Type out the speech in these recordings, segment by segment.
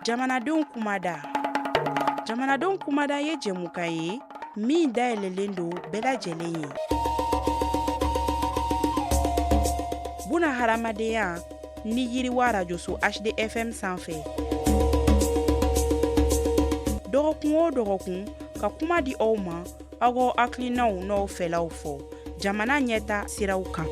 jamanadenw kumada jamanadenw kumada ye jɛmukan ye min dayɛlɛlen don bɛɛ lajɛlen ye buna hadamadenya ni yiriwa rajoso hdfm sanfɛ dɔgɔkun o dɔgɔkun ka kuma di aw ma aw k'aw hakilinaw n'aw fɛlaw fɔ jamana ɲɛtaa siraw kan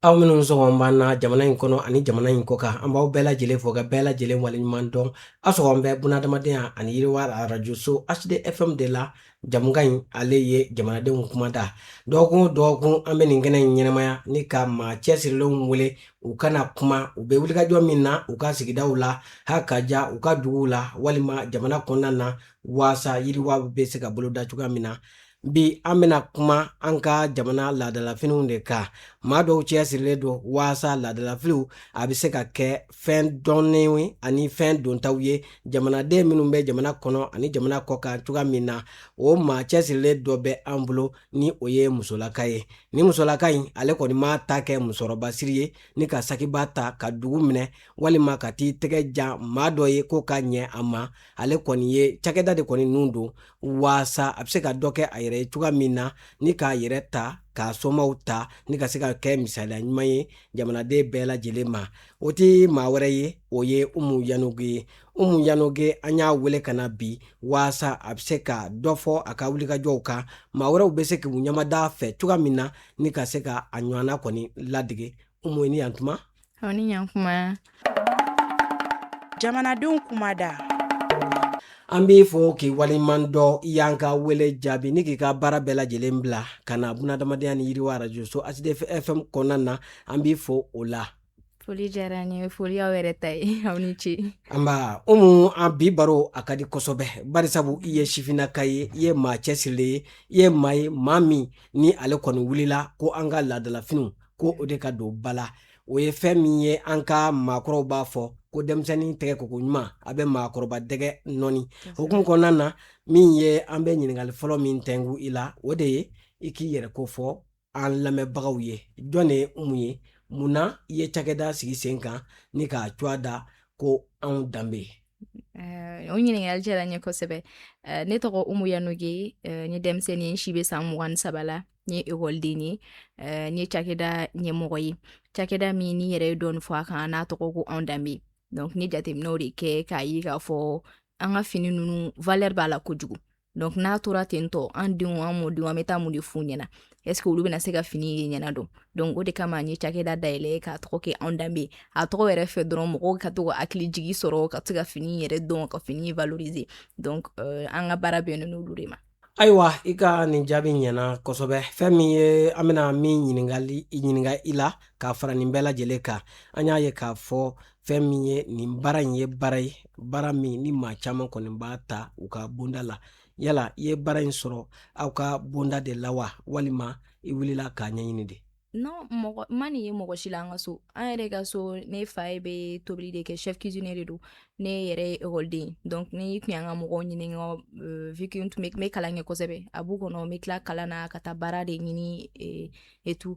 aw minnu sɔgɔn b'an na jamana in kɔnɔ ani jamana in kɔ kan an b'aw bɛɛ lajɛlen fo ka bɛɛ lajɛlen waleɲuman dɔn aw sɔgɔn bɛ bunadamadenya ani yiriwa arajoso hdfm de la jɛmukan in ale ye jamanadenw kumada dɔgɔkun o dɔgɔkun an bɛ nin kɛnɛ in ɲɛnamaya ni ka maa cɛsirilenw wele u ka na kuma u bɛ wulikajɔ min na u ka sigidaw la ha ka ja u ka duguw la walima jamana kɔnɔna na waasa yiriwa bɛ se ka boloda cogoya min na bi an bɛna kuma an ka jamana laadalafiniw de kan maa dɔw cɛsirilen don waasa laadalafiniw a bɛ se ka kɛ fɛn dɔnnen ye ani fɛn dontaw ye jamanaden minnu bɛ jamana kɔnɔ ani jamana kɔ kan cogoya min na o maa cɛsirilen dɔ bɛ an bolo ni o ye musolaka ye ni musolaka in ale kɔni m'a ta kɛ musɔrɔba siri ye ni ka sakiba ta ka dugu minɛ walima ka t'i tɛgɛ jan maa dɔ ye k'o ka ɲɛ a ma ale kɔni ye cakɛda de kɔni nun don waasa a bɛ se ka dɔ kɛ a yɛrɛ ye cogoya min na ni k'a yɛrɛ ta k'a somaw ta ni ka se ka kɛ misaliya ɲuman ye jamanaden bɛɛ lajɛlen ma o tɛ maa wɛrɛ ye o ye umu yanoge ye umu yanoge an y'a wele ka na bi waasa a bɛ se ka dɔ fɔ a ka wulikajɔw kan maa wɛrɛw bɛ se k'u ɲɛmada a fɛ cogoya min na ni ka se ka a ɲɔgɔnna kɔni ladege umu i ni yantuma aw ni ɲantuma jamanadenw kumada an b'i fo k'i waleɲuman dɔn i y'an ka wele jaabi ni k'i ka baara bɛɛ lajɛlen bila ka na bunadamadenya ni yiriwa arajoso hdfm kɔnɔna na an b'i fo o la foli diyara n ye foli aw yɛrɛ ta ye aw ni ce nba umu an bi baro a ka di kosɛbɛ barisabu i ye sifinnaka ye i ye maa cɛsirilen ye i ye maa ye maa min ni ale kɔni wulila ko an ka laadalafiniw ko o de ka don ba la o ye fɛn min ye an ka maakɔrɔw b'a fɔ ko denmisɛnnin tɛgɛ ko koɲuman a bɛ maakɔrɔba dɛgɛ nɔɔni hukumu kɔnɔna na min ye an bɛ ɲininkali fɔlɔ min tɛngu i la o de ye i k'i yɛrɛ ko fɔ an lamɛnbagaw ye jɔn de ye umu ye mun na i ye cakɛda sigi sen kan ni k'a tɔgɔ da ko anw danbe o ɲininkali diyara n ye kosɛbɛ ne tɔgɔ umu yanoge n ye denmisɛn ye n si bɛ san mugan ni saba la n ye ekɔliden ye eh, n ye cakɛda ɲɛmɔgɔ ye cakɛda min n'i yɛrɛ ye dɔɔni fɔ a kan n'a tɔgɔ ko anw danbe donc n ye jateminɛw de kɛ k'a ye k'a fɔ an ka fini ninnu valeur b'a la ka jigin donc n'a tora ten tɔ an denw an mɔdenw an bɛ taa mun de f'u ɲɛna est ce que olu bɛna se ka fini ye ɲɛna dɔn donc o de kama n ye cakɛda dayɛlɛ k'a tɔgɔ kɛ anw danbe a tɔgɔ yɛrɛ fɛ dɔrɔn mɔgɔw ka to ka hakili jigi sɔrɔ ka se ka fini yɛrɛ dɔn ka fini valoriser donc euh, an ka baara bɛnnen n'olu de ma ayiwa i ka nin jaabi ɲɛna kosɛbɛ fɛn min ye an bɛna min ɲininka ɲininka i la k'a fara nin bɛɛ lajɛlen kan an y'a ye k'a fɔ fɛn min ye nin baara in ye baara ye baara min ni maa caman kɔni b'a ta u ka bonda la yala i ye baara in sɔrɔ aw ka bonda de la wa walima i wulila k'a ɲɛɲini de non n ma nin ye mɔgɔ si la an ka so an yɛrɛ ka so ne fa ye bɛ tobili de kɛ chef cuisinier de don ne yɛrɛ ye ekɔliden donc n'i tun y'an ka mɔgɔw ɲininka euh, vu que n tun bɛ kalan kɛ kosɛbɛ a b'u kɔnɔ n bɛ tila kalan na ka taa baara de ɲini euh, et tout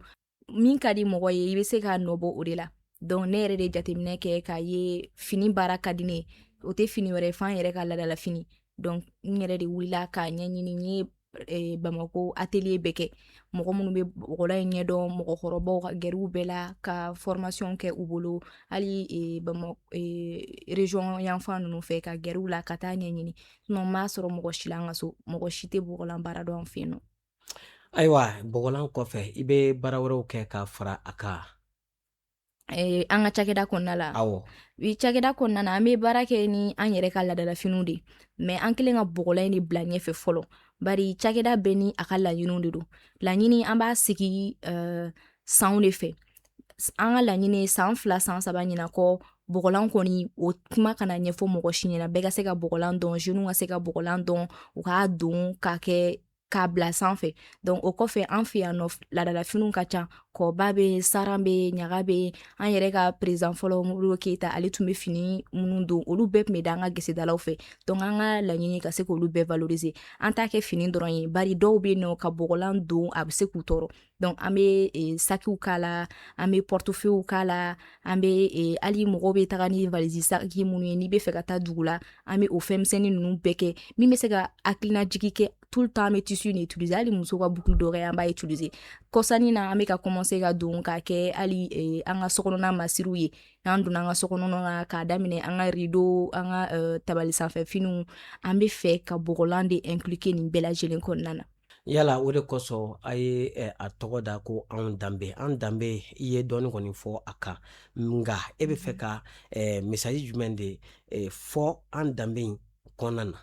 min ka di mɔgɔ ye i bɛ se k'a nɔbɔ o de la donc ne yɛrɛ de jateminɛ kɛ k'a ye fini baara ka di ne ye o tɛ fini wɛrɛ ye f'an yɛrɛ ka laadalafini donc n yɛrɛ de wulila k'a ɲɛɲini n ye eh, bamako atelier bɛɛ kɛ mɔgɔ minnu bɛ bɔgɔlan in ɲɛdɔn mɔgɔkɔrɔbaw ka gɛrɛ u bɛɛ la ka formation kɛ u bolo hali eh, bama eh, region yanfan ninnu fɛ ka gɛrɛ u la ka taa ɲɛɲini sinon n m'a sɔrɔ mɔgɔ si la an ka so mɔgɔ si tɛ bɔgɔlan baara dɔn an fɛ yen nɔ ayiwa bɔgɔlan kɔfɛ i bɛ baara wɛrɛw kɛ ka fara a kan Eh, an ka cakɛda kɔnɔna la i cakɛda kɔnɔna na an bɛ baara kɛ ni an yɛrɛ ka laadalafiniw de mais an kɛlen ka bɔgɔlan in de bila ɲɛfɛ fɔlɔ bari cakɛda bɛɛ ni a ka laɲiniw de don laɲini an b'a sigi uh, sanw de fɛ an ka laɲini san fila san saba ɲina kɔ bɔgɔlan kɔni o kuma kana ɲɛfɔ mɔgɔ si ɲɛna bɛɛ ka se ka bɔgɔlan dɔn jeunes ka se ka bɔgɔlan dɔn u k'a don k'a kɛ k'a bila sanfɛ donc o kɔfɛ an fɛ yan nɔ laadalafiniw ka ca kɔba bɛ yen saran bɛ yen ɲaga bɛ yen an yɛrɛ ka président fɔlɔ modibo keyita ale tun bɛ fini minnu don olu bɛɛ tun bɛ da an ka gesedalaw fɛ donc an ka laɲini ka se k'olu bɛɛ valoriser an t'a kɛ fini dɔrɔn ye bari dɔw bɛ yen nɔ ka bɔgɔlan don a bɛ se k'u tɔɔrɔ Donc an bɛ e, sakiw k'a la an bɛ portefeuillew k'a la an bɛ e, hali mɔgɔw bɛ taga ni valizi saki minnu ye n'i bɛ fɛ ka taa dugu la an bɛ o fɛnmisɛnnin ninnu bɛɛ kɛ min bɛ se ka hakilinajigi kɛ tout le temps an bɛ tissu nin utiliser hali muso ka boucle d'oreille an b'a utiliser kɔsa in na an bɛ ka commencer ka don k'a kɛ hali e, an ka sokɔnɔna masiriw ye n'an donna an ka sokɔnɔna na k'a daminɛ an ka rideau an ka tabali sanfɛ finiw an bɛ fɛ ka bɔgɔlan de inclure nin bɛɛ lajɛlen kɔnɔna na yala o de kosɔn a ye eh, a tɔgɔ da ko anw danbe an danbe i ye dɔɔni kɔni fɔ a kan nka e bɛ fɛ ka eh, message jumɛn de eh, fɔ an danbe in kɔnɔna na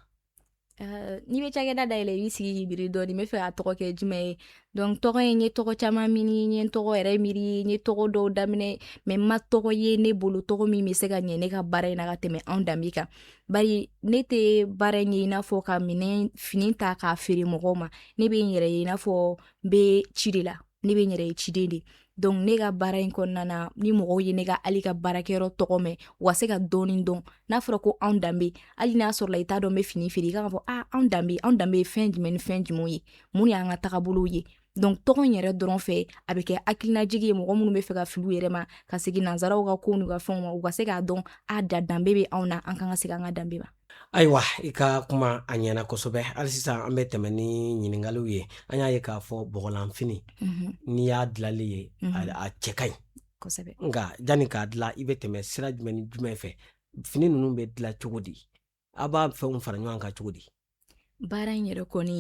Uh, n'i bɛ cakɛda dayɛlɛ i b'i sigi k'i miiri dɔɔni n bɛ fɛ k'a tɔgɔ kɛ jumɛn ye donc tɔgɔ ye n ye tɔgɔ caman ɲini n ye tɔgɔ yɛrɛ miiri n ye tɔgɔ dɔw daminɛ mais n ma tɔgɔ ye ne bolo tɔgɔ min bɛ se ka ɲɛ ne ka baara in na ka tɛmɛ anw danbe kan bari ne tɛ baara in ye i n'a fɔ ka fini ta k'a feere mɔgɔw ma ne bɛ n yɛrɛ ye i n'a fɔ n bɛ ci de la ne bɛ n yɛrɛ ye ciden de donc ne ka baara in kɔnɔna na ni mɔgɔw ye ne ka hali n ka baarakɛyɔrɔ tɔgɔ mɛn u ka se ka dɔɔnin dɔn n'a fɔra ko anw danbe hali n'a sɔrɔla i t'a dɔn n bɛ fini feere i kan k'a fɔ ah anw danbe anw danbe ye fɛn jumɛn ni fɛn jumɛn ye mun y'an ka tagabolow ye donc tɔgɔ in yɛrɛ dɔrɔn fɛ a bɛ kɛ hakilinajigi ye mɔgɔ minnu bɛ fɛ ka fili u yɛrɛ ma ka segin nansaraw ka kow n'u ka fɛnw ma u ka se k'a dɔn a da danbe bɛ anw na an kan ka segin an ka danbe ma ayiwa i ka kuma a ɲɛna kosɛbɛ hali sisan an bɛ tɛmɛ ni ɲiningaliw ye an y'a ye k'a fɔ bɔgɔlanfini mhm. n'i y'a dilali ye mhm. a cɛ ka ɲi kosɛbɛ nka janni k'a dila i bɛ tɛmɛ sira jumɛn ni jumɛn fɛ fini ninnu bɛ dila cogo di aw b'a fɛnw fara ɲɔgɔn kan cogo di baara in yɛrɛ kɔni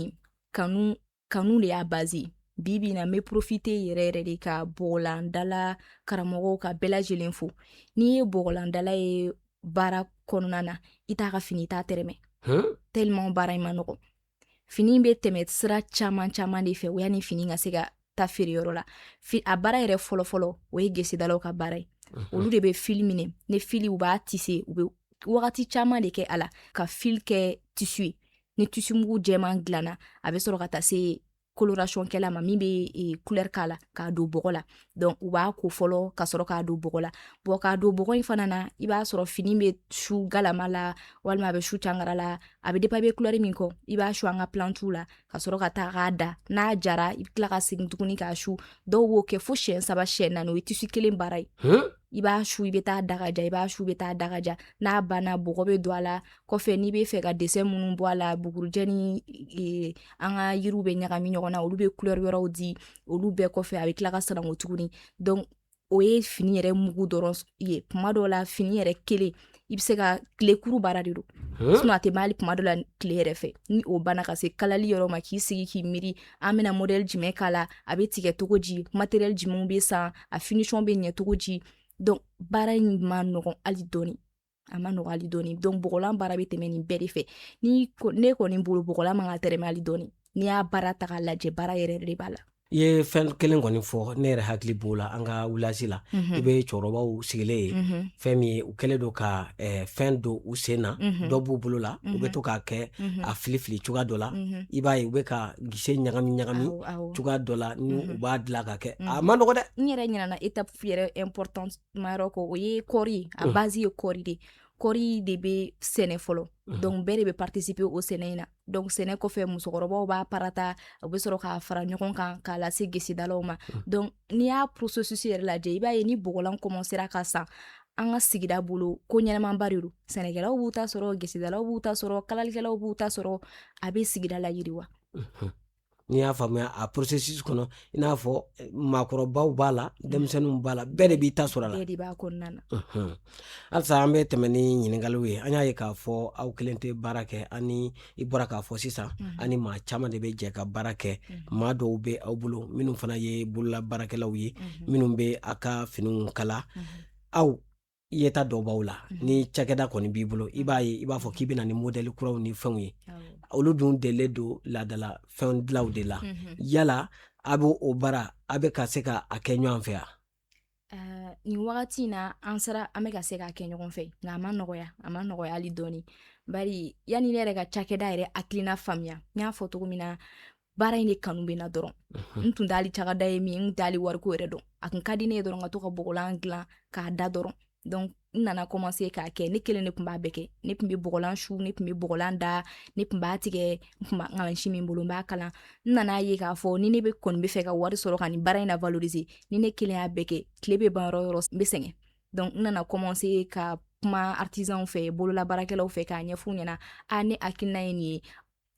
kanu kanu de y'a baze bi bi na n bɛ profite yɛrɛ yɛrɛ de ka bɔgɔlandala karamɔgɔw ka bɛɛ lajɛlen fo n'i ye bɔgɔlandala ye baara kɔnɔna na i t'a ka fini i t'a tɛrɛmɛ tellement baara in ma nɔgɔ fini bɛ tɛmɛ sira caman caman de fɛ o yanni fini ka se ka taa feereyɔrɔ la a baara yɛrɛ fɔlɔfɔlɔ o ye gesedalaw ka baara ye olu de bɛ fili minɛ ne fili u b'a tise u bɛ wagati caman de kɛ a la ka fili kɛ tisu ye ni tisumugu jɛman dilanna a bɛ sɔrɔ ka taa se coloration kɛla ma min bɛ couleur k'a la k'a don bɔgɔ la donc u b'a ko fɔlɔ ka sɔrɔ k'a don bɔgɔ la bon k'a don bɔgɔ in fana na i b'a sɔrɔ fini bɛ su galama la walima a bɛ su cangara la a bɛ dépend i bɛ couleur min kɔ i b'a su an ka plantuw la ka sɔrɔ ka taa k'a da n'a jara i bɛ tila ka segin tuguni k'a su dɔw b'o kɛ fo siyɛn saba siyɛn naani o ye tisu kelen baara ye i b'a su i bɛ taa da k'a ja i b'a su bɛ taa da k'a ja n'a banna bɔgɔ bɛ don a la kɔfɛ n'i bɛ fɛ ka dessin minnu bɔ a la bugurujɛ ni e, an ka yiriw bɛ ɲagami ɲɔgɔn na olu bɛ couleur wɛrɛw di olu bɛɛ kɔfɛ a bɛ tila ka sananko tuguni donc o ye fini yɛrɛ mugu dɔrɔn ye kuma dɔw la fini yɛrɛ kelen i bɛ se ka tilekuru baara de don sinon a tɛ ban hali kuma dɔ la tile yɛrɛ fɛ ni o banna ka se kalali yɔrɔ ma k'i sigi k'i miiri an bɛna modɛli jumɛn k'a la a bɛ tigɛ cogo di matériel jumɛnw bɛ san a finition bɛ ɲɛ cogo di donc baara in ma nɔgɔn hali dɔɔni a ma nɔgɔ hali dɔɔni donc bɔgɔlan baara bɛ tɛmɛ nin bɛɛ de fɛ ni ne kɔni bolo bɔgɔlan man ka tɛrɛmɛ hali dɔɔni n'i y'a baara ta k'a lajɛ baara yɛrɛ de b'a la i ye fɛn kelen kɔni fɔ ne yɛrɛ hakili b'o la an ka village la mhm. i bɛ cɛkɔrɔbaw sigilen ye mhm. fɛn min ye u kɛlen don ka eh, fɛn don u sen na mhm. dɔ b'u bolo la u bɛ to k'a kɛ a fili fili cogoya dɔ la i b'a ye u bɛ ka gese ɲagami ɲagami cogoya dɔ la ni u b'a dilan ka kɛ a ma nɔgɔ dɛ n yɛrɛ ɲinɛna étape yɛrɛ importante ma yɔrɔ kɔ o ye kɔɔri ye a base ye kɔɔri de kɔɔri de bɛ sɛnɛ fɔlɔ donc bɛɛ de bɛ participer o sɛnɛ in na donc sɛnɛ kɔfɛ musokɔrɔbaw b'a parata u bɛ sɔrɔ k'a fara ɲɔgɔn kan k'a lase gesedalaw ma donc n'i y'a processus yɛrɛ lajɛ i b'a ye ni bɔgɔlan commencera ka san an ka sigida bolo ko ɲɛnamaba de don sɛnɛkɛlaw b'u ta sɔrɔ gesedalaw b'u ta sɔrɔ kalalikɛlaw b'u ta sɔrɔ a bɛ sigida layiriwa n'i y'a faamuya a processus kɔnɔ i n'a fɔ eh, maakɔrɔbaw b'a la mm. denmisɛnninw b'a la bɛɛ de b'i ta sɔrɔ a la bɛɛ de b'a kɔnɔna na halisa an bɛ tɛmɛ ni ɲininkaliw ye an y'a ye k'a fɔ aw kelen tɛ baara kɛ ani i bɔra k'a fɔ sisan mm-hmm. ani maa caman de bɛ jɛ ka baara kɛ mm-hmm. maa dɔw bɛ aw bolo minnu fana ye bolola baarakɛlaw ye mm-hmm. minnu bɛ a ka finiw kala aw yeta dɔw b'aw la mhm. ni cakɛda kɔni b'i bolo i b'a ye i b'a fɔ k'i bɛna ni modèle kuraw ni fɛnw ye olu dun delilen don laadala fɛn dilaw de la mhm. yala a bɛ o baara a bɛ ka se ka a kɛ ɲɔgɔn fɛ yan eh, nin wagati in na an sera an bɛ ka se k'a kɛ ɲɔgɔn fɛ nka a ma nɔgɔya a ma nɔgɔya hali dɔɔni bari yanni ne yɛrɛ ka cakɛda yɛrɛ hakilina faamuya n y'a fɔ cogo min na baara in de kanu bɛ n na dɔrɔn n tun t'ali cakɛda ye min n t'ali wariko yɛrɛ dɔn a tun ka di ne ye dɔrɔn ka to ka bɔgɔlan dilan k'a da dɔrɔn donc n nana commencer k'a kɛ ne kelen de tun b'a bɛɛ kɛ ne tun bɛ bɔgɔlan su ne tun bɛ bɔgɔlan da ne tun b'a tigɛ n tun b'a mansin bɛ n bolo n b'a kala n nana ye k'a fɔ ni ne bɛ kɔni bɛ fɛ ka wari sɔrɔ ka nin baara in na valoriser ni ne kelen y'a bɛɛ kɛ tile bɛ ban yɔrɔ yɔrɔ n bɛ sɛgɛn donc n nana commencer ka kuma artisanw fɛ bololabaarakɛlaw fɛ k'a ɲɛf'u ɲɛna a ne hakilina ye nin ye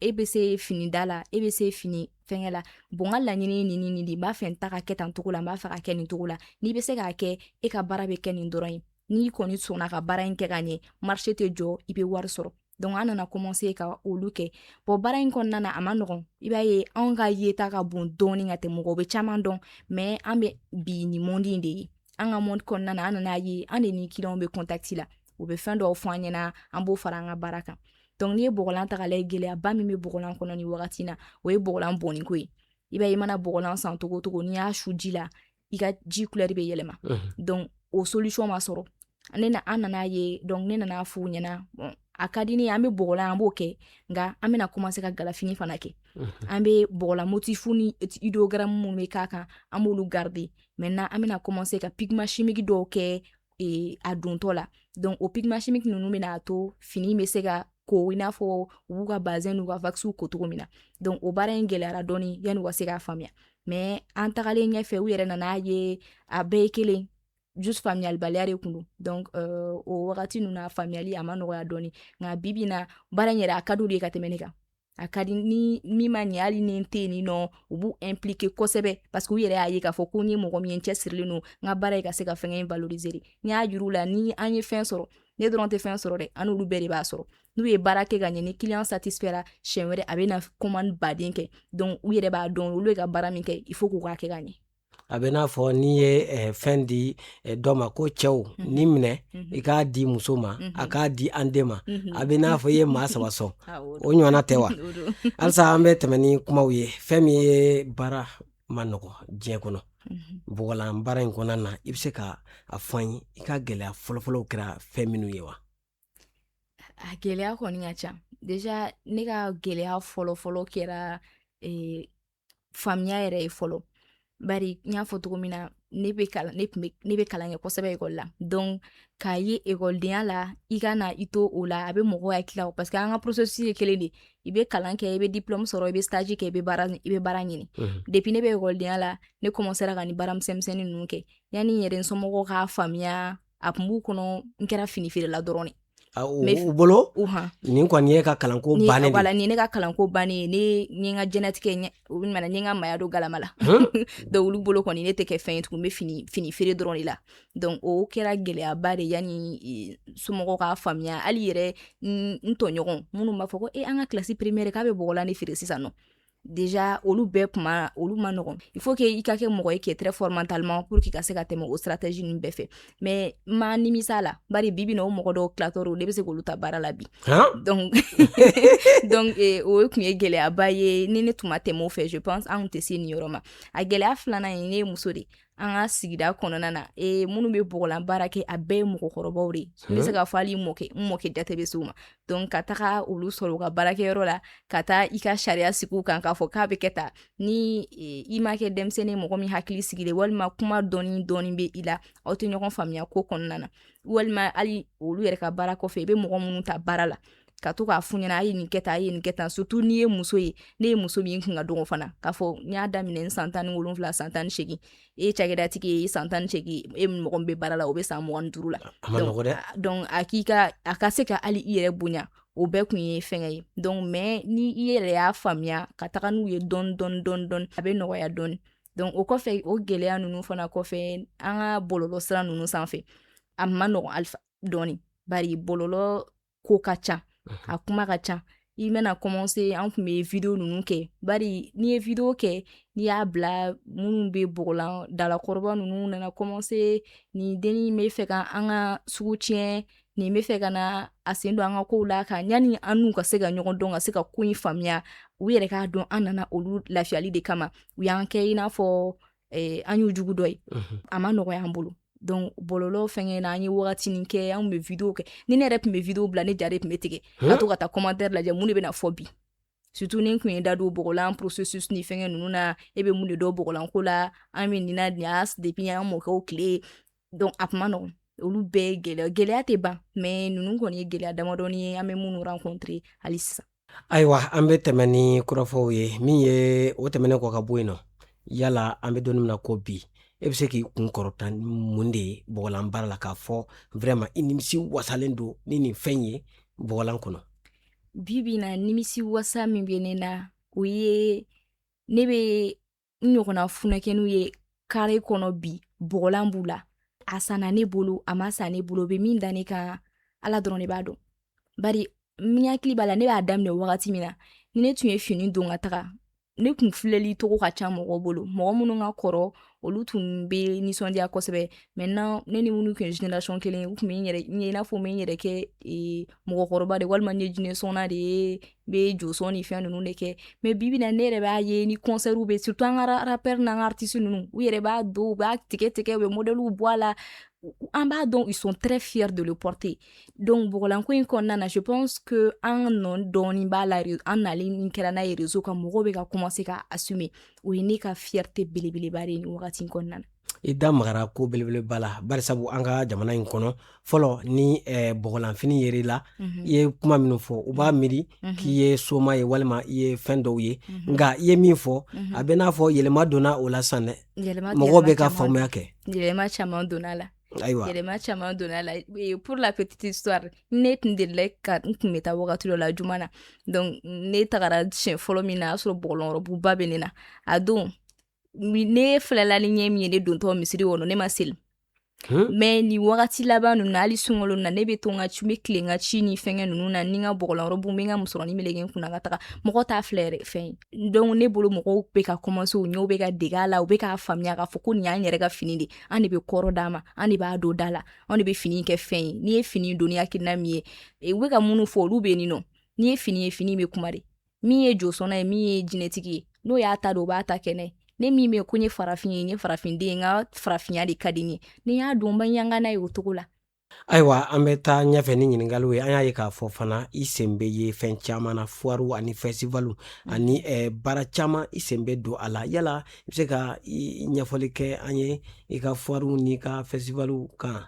e bɛ se fini da la e bɛ se fini fɛngɛ la bon n ka laɲini ye nin nin de n b'a fɛ n ta ka kɛ tan cogo la n b'a fɛ ka kɛ nin cogo la n'i bɛ se k'a kɛ e ka baara bɛ kɛ nin dɔrɔn ye n'i kɔni sɔnna ka baara in kɛ ka ɲɛ marché tɛ jɔ i bɛ wari sɔrɔ donc an nana commencer ka olu kɛ bon baara in kɔnɔna na a ma nɔgɔn i b'a ye anw ka yeta ka bon dɔɔni ka tɛmɛ mɔgɔw bɛ caman dɔn mais an bɛ bi nin monde in de ye an ka monde kɔnɔna na an nana ye an de ni clientw bɛ contact la u bɛ fɛn dɔw fɔ an ɲɛna an b'o fara an ka baara kan donc n'i ye bɔgɔlan ta k'a lajɛ gɛlɛyaba min bɛ bɔgɔlan kɔnɔ nin wagati in na o ye bɔgɔlan bɔnniko ye i b'a ye i mana bɔgɔlan san cogo cogo n'i y'a su ji la i ka ji couleur bɛ yɛlɛma donc o solution ma sɔrɔ ne na an nana ye donc ne nana f'u ɲɛna a ka di an bɛ bɔgɔlan an b'o kɛ nka an bɛna commencer ka galafini fana kɛ an bɛ bɔgɔlan motif ni idéogramme minnu bɛ k'a kan an b'olu garder maintenant an bɛna commencer ka pigment chimique dɔw kɛ e, a dontɔ la donc o pigment chimique ninnu bɛna to fini bɛ se ka ko i n'a fɔ u b'u ka bazin n'u ka wakisiw ko cogo min na donc o baara in gɛlɛyara dɔɔni yanni u ka se k'a faamuya mais an tagalen ɲɛfɛ u yɛrɛ nana ye a bɛɛ ye kelen juste faamuyalibaliya de tun don donc euh, o wagati ninnu na faamuyali a ma nɔgɔya dɔɔni nka bi bi na baara in yɛrɛ a ka di u de ye ka tɛmɛ ne kan a ka di ni min ma ɲɛ hali ni n tɛ yen nɔ u b'u impliquer kosɛbɛ parce que u yɛrɛ y'a ye k'a fɔ ko n ye mɔgɔ min ye n cɛsirilen don n ka baara ye ka se ka fɛngɛ in valoriser de n y'a yir'u la ni an ye fɛn sɔrɔ ne dɔrɔn tɛ fɛn sɔrɔ dɛ an n'olu bɛɛ de b'a sɔrɔ n'u ye baara kɛ ka ɲɛ ni client satisfaira siɲɛ wɛrɛ a bɛ na commande ba de kɛ donc u yɛrɛ b'a dɔn olu ye ka baara min kɛ il faut k'u k'a kɛ ka ɲɛ a bɛ n'a fɔ n'i ye fɛn di dɔ ma ko cɛ nin minɛ i k'a di muso ma a k'a di an den ma a bɛ n'a fɔ i ye maa saba sɔn o ɲɔgɔnna tɛ wa halisa an bɛ tɛmɛ ni kumaw ye fɛn min ye baara man nɔgɔ diɲɛ kɔnɔ bɔgɔlan baara in kɔnɔna na i bɛ se ka a fɔ n ye i ka gɛlɛya fɔlɔfɔlɔw kɛra fɛn minnu ye wa a gɛlɛya kɔni ka ca déjà ne ka gɛlɛya fɔlɔfɔlɔ kɛra eh, faamuya yɛrɛ ye fɔlɔ bari n y'a fɔ cogo min na ne bɛ kalan ne tun ne bɛ kalan kɛ kosɛbɛ ekɔli la donc k'a ye ekɔlidenya la i ka na i to o la a bɛ mɔgɔw hakili la parce que an ka processus ye kelen de i bɛ kalan kɛ i bɛ diplôme sɔrɔ i bɛ stage kɛ i bɛ baara i bɛ baara ɲini depuis ne bɛ ekɔlidenya la ne commencera ka nin baara misɛnmisɛnnin ninnu kɛ yanni n yɛrɛ n somɔgɔw k'a faamuya a tun b'u kɔnɔ n kɛra finifeerela dɔrɔn u bolo nin kɔni ye ka kalanko bannen wala nin ne ka kalanko bannen ne n ka diɲɛlatigɛ olu nana n ka maaya don galama la donc olu bolo kɔni ne tɛ kɛ fɛn ye tugun n bɛ fini fini feere dɔrɔn de la donc o kɛra gɛlɛyaba de yanni e, somɔgɔw k'a faamuya hali yɛrɛ n tɔɲɔgɔn minnu b'a fɔ ko e an ka kilasi premier k'a bɛ bɔgɔlan de feere sisan nɔ déjà olu bɛɛ kuma olu man nɔgɔn il faut que i ka kɛ mɔgɔ ye qui est très fort mentalement pour que ka se ka tɛmɛ o stratégie ninnu bɛɛ fɛ mais n ma nimisa la bari bi bi na o mɔgɔ dɔw tilatɔrɔ ne bɛ se k'olu ta baara la bi donc donc eh, o tun ye gɛlɛyaba ye ni ne tun ma tɛmɛ o fɛ je pense an tun tɛ se nin yɔrɔ ma a gɛlɛya filanan ye ne ye muso de an ka sigida kɔnɔna na e minnu bɛ bɔgɔlan baara kɛ a bɛɛ ye mɔgɔkɔrɔbaw de n bɛ se k'a fɔ hali mɔkɛ n mɔkɛ jate bɛ s'u ma donc ka taga olu sɔrɔ u ka baarakɛyɔrɔ la ka taa i ka sariya sigi u kan k'a fɔ k'a bɛ kɛ tan ni i ma kɛ denmisɛnnin mɔgɔ min hakili sigilen walima kuma dɔɔni dɔɔni bɛ i la aw tɛ ɲɔgɔn faamuya ko kɔnɔna na walima hali olu yɛrɛ ka baara kɔfɛ i bɛ mɔgɔ minnu ta baara la ka to k'a f'u ɲɛna a ye nin kɛ tan a ye nin kɛ tan surtout n'i ye muso ye ne ye muso min kun ka dɔgɔn fana k'a fɔ n y'a daminɛ n san tan ni wolonwula san tan ni segin e ye cakɛdatigi ye san tan ni segin e mɔgɔ min bɛ baara la o bɛ san mugan ni duuru la donc a k'i ka a ka se ka hali i yɛrɛ bonya o bɛɛ kun ye fɛngɛ ye donc mais ni i yɛrɛ y'a faamuya ka taga n'u ye dɔɔni dɔɔni dɔɔni dɔɔni a bɛ nɔgɔya dɔɔni donc o kɔfɛ o gɛlɛya ninnu fana kɔfɛ an ka bɔlɔlɔ sira ninnu sanfɛ a man nɔgɔn alifa dɔɔni bari bɔlɔlɔ ko ka ca a kuma ka ca i bɛna commencer an tun bɛ video ninnu kɛ bari n'i ye video kɛ n'i y'a bila minnu bɛ bɔgɔlan dalakɔrɔba ninnu nana commencer nin dennin bɛ fɛ ka an ka sugu tiɲɛ nin bɛ fɛ ka na a sen don an ka kow la ka yanni an n'u ka se ka ɲɔgɔn dɔn ka se ka ko in faamuya u yɛrɛ k'a dɔn an nana olu lafiyali de kama u y'an kɛ i n'a fɔ eh, an y'u jugu dɔ ye mhm. a ma nɔgɔya an bolo donc bɔlɔlɔ fɛngɛ na an ye wagatinin kɛ an bɛ video kɛ ni ne yɛrɛ tun bɛ video bila ne ja de tun bɛ tigɛ ka to ka taa commentaire lajɛ mun de bɛna fɔ bi surtout ni n tun ye da don bɔgɔlan processus ni fɛngɛ ninnu na e bɛ mun de dɔn bɔgɔlanko la an bɛ nin na nin y'a depuis an mɔkɛw tile donc a kun man nɔgɔn olu bɛɛ ye gɛlɛya gɛlɛya tɛ ban mais ninnu kɔni ye gɛlɛya damadɔni ye an bɛ minnu rencontre hali sisan ayiwa an bɛ tɛmɛ ni kɔrɔfɔw ye min ye o tɛmɛnen kɔ ka bɔ yen nɔ yala an bɛ don nin min na ko bi e bɛ se k'i kun kɔrɔta ni mun de ye bɔgɔlan baara la k'a fɔ vraiment i nimisi wasalen don ni nin fɛn ye bɔgɔlan kɔnɔ bibi na nimisi wasa min bɛ ne na o ye ne bɛ n ɲɔgɔnna funakɛninw ye kare kɔnɔ bi bɔgɔlan b'u la a sanna ne bolo a ma san ne bolo bɛ min da ne kan ala dɔrɔn de b'a dɔn bari ne hakili b'a la ne b'a daminɛ wagati min na ni ne tun ye fini don ka taga ne kun filɛli cogo ka ca mɔgɔ bolo mɔgɔ minnu ka kɔrɔ olu tun bɛ nisɔndiya kosɛbɛ maintenant ne ni minnu tun ye génération kelen ye u tun bɛ n yɛrɛ ye i n'a fɔ n bɛ n yɛrɛ kɛ mɔgɔkɔrɔba de walima n ye jinɛsɔnna de ye bɛ josɔn ni fɛn ninnu de kɛ mais bibi na ne yɛrɛ b'a ye ni concert bɛ surtout an ka rappeur n'an ka artiste ninnu u yɛrɛ b'a don u b'a tigɛ tigɛ u bɛ modèle bɔ a la an b'a dɔn ils sont très fiers de le porter donc bɔgɔlanko in kɔnɔna na je pense que an nɔ dɔɔni b'a la an nalen min kɛra n'a ye réseau kan mɔgɔw bɛ ka commencer ka assumer o ye ne ka fierté belebeleba de ye nin wagati kɔnɔna na i da magara ko belebeleba la barisabu an ka jamana in kɔnɔ fɔlɔ ni eh, bɔgɔlanfini yer'i la mm -hmm. i ye kuma minnu fɔ u b'a mhm. miiri mm -hmm. k'i ye soma ye walima i ye fɛn dɔw ye mm -hmm. nka i ye min fɔ mm -hmm. a bɛ n'a fɔ yɛlɛma donna o la san dɛ mɔgɔw bɛ ka faamuya kɛ yɛlɛma caman donn'a la ayiwa yɛlɛma caman donn'a la e, pour la petite histoire ne tun delila ka n tun bɛ taa wagati dɔ la juma na donc ne tagara siɲɛ fɔlɔ min na a y'a sɔrɔ bɔgɔlan rɔbuba bɛ ne na a don ne filɛla ni ɲɛ min ye ne dontɔ misiri kɔnɔ ne ma seli mais nin wagati laban ninnu na hali sunkalo na ne bɛ to n ka ci n bɛ tilen n ka ci ni fɛngɛ ninnu na ni n ka bɔgɔlan robe n bɛ n ka musɔrɔni meleke n kun na ka taga mɔgɔ t'a filɛ yɛrɛ fɛn ye donc ne bolo mɔgɔw bɛ ka commencer u ɲɛw bɛ ka dege a la u bɛ k'a faamuya k'a fɔ ko nin y'an yɛrɛ ka fini de an de bɛ kɔrɔ d'a ma an de b'a don da la an de bɛ fini kɛ fɛn ye n'i ye fini don ni hakilina min ye u bɛ ka minnu fɔ olu bɛ nin nɔ n'i ye fini ye fini bɛ kuma de min ye josɔnna ye min ye jinɛtigi ye n'o y'a ta don o b'a ta kɛnɛ ne min bɛ ko n ye farafin ye n ye farafinden ye n ka farafinya de ka di n ye ni n y'a don n bɛ yanga n'a ye o cogo la ayiwa an bɛ taa ɲɛfɛ ni ɲininkaliw ye an y'a ye k'a fɔ fana i sen bɛ ye fɛn caman na foirew ani festivalw mm. ani eh, baara caman i sen bɛ don a la yala i bɛ se ka ɲɛfɔli kɛ an ye i ka foirew n'i ka festivalw kan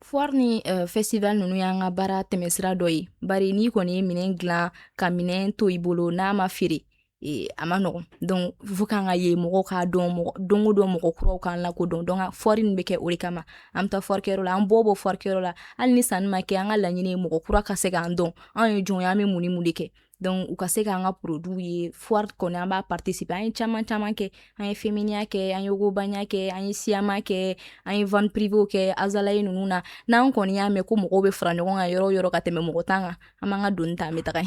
Foire ni euh, festival ninnu y'an ka baara tɛmɛsira dɔ ye bari n'i kɔni ye minɛn dilan ka minɛn to i bolo n'a ma feere e, a man nɔgɔn donc fo k'an ka ye mɔgɔw k'an dɔn mɔgɔ don o don mɔgɔ kuraw k'an lakodɔn donc foire nin bɛ kɛ o de kama an bɛ taa foire kɛyɔrɔ la an bɛ bɔ foire kɛyɔrɔ la hali ni sanni ma kɛ an ka laɲini ye mɔgɔ kura ka se k'an dɔn anw ye jɔn ye an bɛ mun ni mun de kɛ donc u ka se k'an ka produitw ye foire kɔni an b'a participer an ye caman caman kɛ an ye Feminia kɛ an ye Ogobagna kɛ an ye SIAMA kɛ an ye vente privée kɛ Azalaï ninnu na n'an kɔni y'a mɛn ko mɔgɔw bɛ fara ɲɔgɔn kan yɔrɔ o yɔrɔ ka tɛmɛ mɔgɔ tan kan an b'an ka doni ta an bɛ taga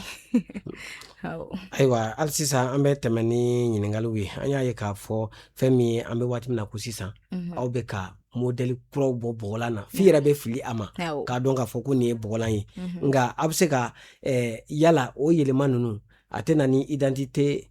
ayiwa hali sisan an bɛ tɛmɛ ni ɲininkaliw ye an y'a ye k'a fɔ fɛn min ye an bɛ waati min na ko sisan aw bɛ ka modèle kuraw bɔ bɔgɔlan na f'i yɛrɛ bɛ fili a ma k'a dɔn k'a fɔ ko nin ye bɔgɔlan ye mhm. nka a bɛ se ka eh, yala o yɛlɛma ninnu a tɛ na ni identité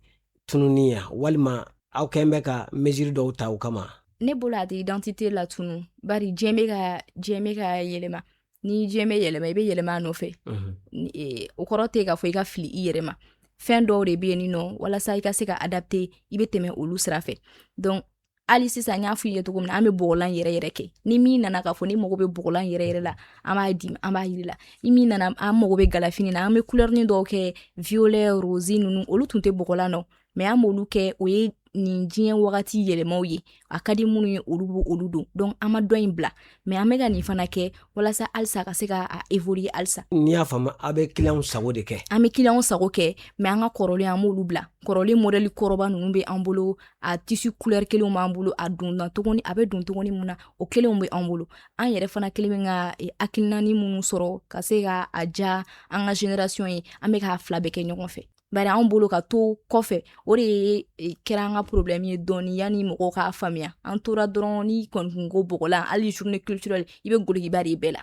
tununni ye walima aw kɛn bɛ ka mesure dɔw ta o kama ne bolo a tɛ identité latunun bari diɲɛ bɛ ka diɲɛ bɛ ka yɛlɛma ni diɲɛ bɛ yɛlɛma i bɛ yɛlɛma a nɔfɛ mhm. eh, o kɔrɔ tɛ k'a fɔ i ka fili i yɛrɛ ma fɛn dɔw de bɛ yen nɔ walasa i ka se ka adapter i bɛ tɛmɛ olu sira fɛ donc hali sisan n y'a f'i ye cogo min na an bɛ bɔgɔlan yɛrɛ yɛrɛ kɛ ni min nana k'a fɔ ni mago bɛ bɔgɔlan yɛrɛ yɛrɛ la an b'a di an b'a yir'i la ni min nana a mago bɛ galafini na an bɛ kulɛrini dɔw kɛ violet rose ninnu olu tun tɛ bɔgɔlan nɔ mais an b'olu kɛ o ye nin diɲɛ wagati yɛlɛmaw ye a ka di minnu ye olu b'olu don donc an ma dɔ in bila mais an bɛ ka nin fana kɛ walasa halisa ka se ka évoluer halisa n'i y'a faamu aw bɛ clientw sago de kɛ an bɛ clientw sago kɛ mais an ka kɔrɔlen an b'olu bila kɔrɔlen modèle kɔrɔba ninnu bɛ an bolo a tissu couleur kelen b'an bolo a don tuguni a bɛ don tuguni min na o kelenw bɛ an bolo an yɛrɛ fana kɛlen bɛ ka e, hakilinani minnu sɔrɔ ka se ka a diya an ka génération ye an bɛ k'a fila bɛɛ kɛ ɲɔgɔn fɛ bari anw bolo ka to kɔfɛ o de ye e, kɛra an ka problème ye dɔɔni yanni mɔgɔw k'a faamuya an tora dɔrɔn n'i kɔni kun ko bɔgɔlan hali journée culturelle i bɛ golokiba de bɛɛ la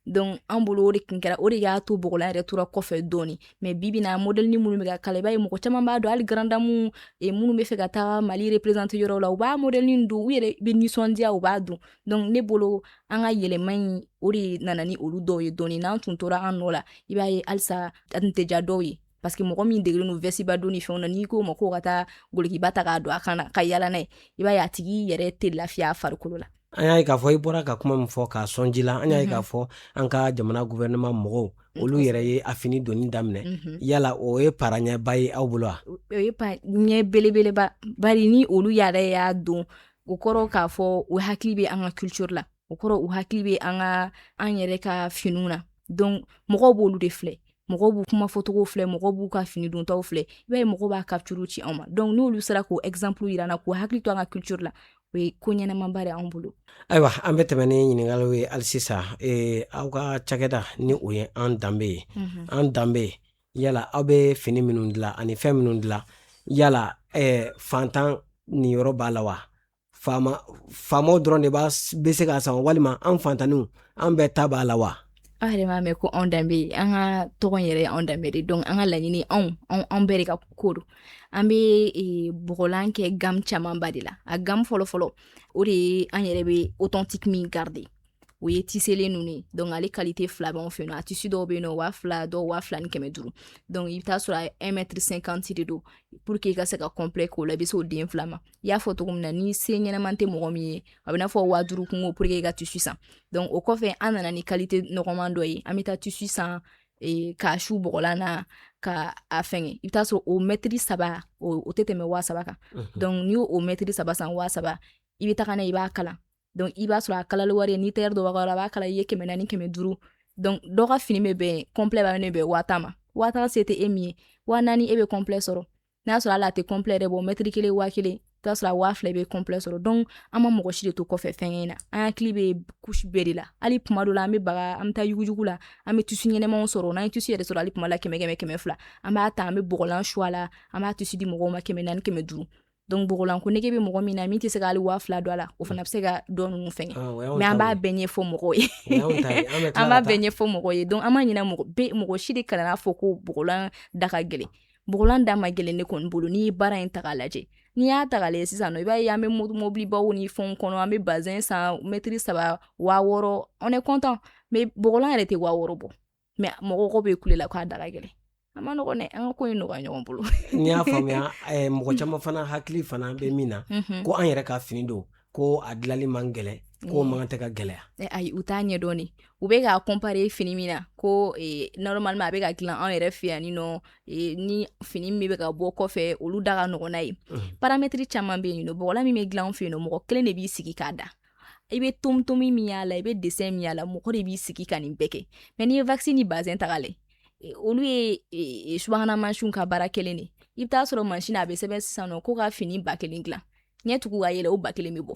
donc an bolo o de kun kɛra o de y'a to bɔgɔlan yɛrɛ tora kɔfɛ dɔɔni mais bibi in na modelini minnu bɛ ka kala i b'a ye mɔgɔ caman b'a don hali grande dame e, minnu bɛ fɛ ka taga mali représenter yɔrɔw la u b'a modelini don u yɛrɛ bɛ nisɔndiya u b'a don donc ne bolo an ka yɛlɛma in o de nana ni olu dɔw ye dɔɔni n'an tun tora an nɔ la i b'a ye halisa a tun tɛ diya dɔw ye parce que mɔgɔ min degelen don vɛsiba donni fɛnw na n'i k'o ma k'o ka taa golokiba ta k'a don a kan na ka yala n'a ye i b'a ye a tigi yɛrɛ tɛ lafiya a farikolo la an y'a ye k'a fɔ i bɔra ka kuma min fɔ k'a sɔn ji la an y'a ye k'a mhm. fɔ an ka jamana gouvernement mɔgɔw mhm. olu yɛrɛ ye a fini donni daminɛ mhm. yala o ye tagaɲɛba ye aw bolo wa o ye taaɲɛ belebeleba bari ni olu yɛrɛ y'a don o kɔrɔ k'a fɔ u hakili bɛ an ka culture la o kɔrɔ u hakili bɛ an ka an yɛrɛ ka finiw na donc mɔgɔw b'olu de filɛ mɔgɔw b'u kuma fɔcogo filɛ mɔgɔw b'u ka fini dontaw filɛ i b'a ye mɔgɔw b'a capture ci anw ma donc n'olu sera k'o exemple yira an na k'u hakili to an ka culture la o ye ko ɲɛnamaba de anw bolo ayiwa an bɛ tɛmɛ ni ɲininkaliw ye hali sisan ee, aw ka cakɛda ni o ye an danbe ye mm -hmm. an danbe yala aw bɛ fini minnu dilan ani fɛn minnu dilan yala ee, fantan niyɔrɔ b'a la wa faama faamaw dɔrɔn de b'a bɛ se k'a san walima an fantanniw an bɛɛ ta b'a la wa aw yɛrɛ m'a mɛn ko anw danbe an ka tɔgɔ in yɛrɛ ye anw danbe de donc an ka laɲini anw anw bɛɛ de ka ko don an bɛ e, bɔgɔlan kɛ gamme camanba de la a gamme fɔlɔfɔlɔ o de ye an yɛrɛ bɛ authentique min garder o ye tiselen ninnu ye donc ale kalite fila b'anw fɛ yen nɔ a tissu dɔw bɛ yen nɔ waa fila dɔw waa fila ni kɛmɛ duuru donc i bɛ t'a sɔrɔ a ye un mètre cinquante de don pour que i ka se ka complet k'o la i bɛ se o den fila ma i y'a fɔ cogo min na ni se ɲɛnaman tɛ mɔgɔ min ye a bɛn'a fɔ waa duuru kunko pour que i ka tissu san donc o kɔfɛ an nana ni kalite nɔgɔman dɔ ye an bɛ taa tissu san e, k'a su bɔgɔlan na ka a fɛngɛ i bɛ t'a sɔrɔ o mɛtiri saba o tɛ tɛmɛ waa saba kan donc n'i y'o o mɛtiri saba san waa saba i bɛ taga n'a ye i b'a kala donc i b'a sɔrɔ a kalali wari ye ni tailleur dɔ b'a la a b'a kala i ye kɛmɛ naani kɛmɛ duuru donc dɔ ka fini bɛ bɛn complet bɛna bɛn waa tan ma waa tan se tɛ e min ye waa naani e bɛ complet sɔrɔ n'a sɔrɔ hali a tɛ complet yɛrɛ bɔ mɛtiri kelen waa kelen i b'a sɔrɔ a waa fila bɛ complet sɔrɔ donc an ma mɔgɔ si de to kɔfɛ fɛnkɛ in na an hakili bɛ couche bɛɛ de la hali tuma dɔ la an bɛ taga an bɛ taa yuguyugu la an bɛ tissu ɲɛnamaw sɔrɔ n'an ye tissu yɛrɛ sɔrɔ hali tuma la kɛmɛ kɛmɛ kɛmɛ fila an b'a ta an bɛ bɔgɔlan su a la an b'a tissu di mɔgɔw ma kɛmɛ naani kɛmɛ duuru donc bɔgɔlan ko nege bɛ mɔgɔ min na min tɛ se ka hali waa fila don a la o fana bɛ se ka dɔ ninnu fɛngɛ mais an b'a bɛɛ ɲɛfɔ mɔgɔw ye an b'a bɛɛ ɲɛfɔ mɔgɔ ye donc an b'a ɲini mɔgɔ fɛ mɔgɔ si de kan'a fɔ ko bɔgɔlan da ka gɛlɛn bɔgɔlan da man gɛlɛn ne kɔni bolo n'i ye baara in ta k'a lajɛ n'i y'a ta k'a lajɛ sisan nɔ i b'a ye an bɛ mobilibaw ni fɛnw kɔnɔ an bɛ bazɛn san mɛtiri saba waa wɔɔrɔ on est content mais bɔgɔlan yɛrɛ tɛ waa wɔɔrɔ bɔ mɛ mɔgɔw bɛ kule la k'a da ka gɛlɛn a man nɔgɔ dɛ an ka ko in nɔgɔya ɲɔgɔn bolo n'i y'a faamuya eh, mɔgɔ caman fana hakili fana bɛ min na mhm. ko an yɛrɛ ka fini don ko a dilanli man gɛlɛn ko mm. man tɛ ka gɛlɛya eh, ayi u t'a ɲɛdɔn de u bɛ k'a comparer fini min na ko eh, normalement a bɛ ka dilan anw yɛrɛ fɛ yan ni nɔ ni fini min bɛ ka bɔ kɔfɛ olu da ka nɔgɔn n'a ye mhm. paramɛtiri caman bɛ yen nɔ bɔgɔlan min bɛ dilan anw fɛ yen nɔ mɔgɔ kelen de b'i sigi k'a da i bɛ tomtomi min y'a la i bɛ desɛn min y'a la mɔgɔ de b'i sigi ka nin bɛɛ kɛ mɛ n'i ye wakisi ni bazɛn ta k'a lajɛ, olu ye e, e, subahana mansinw ka baara kelen de i bɛ taa sɔrɔ mansin a bɛ sɛbɛn sisan nɔ ko ka fini ba kelen dilan ɲɛ tugu ka yɛlɛ o ba kelen bɛ bɔ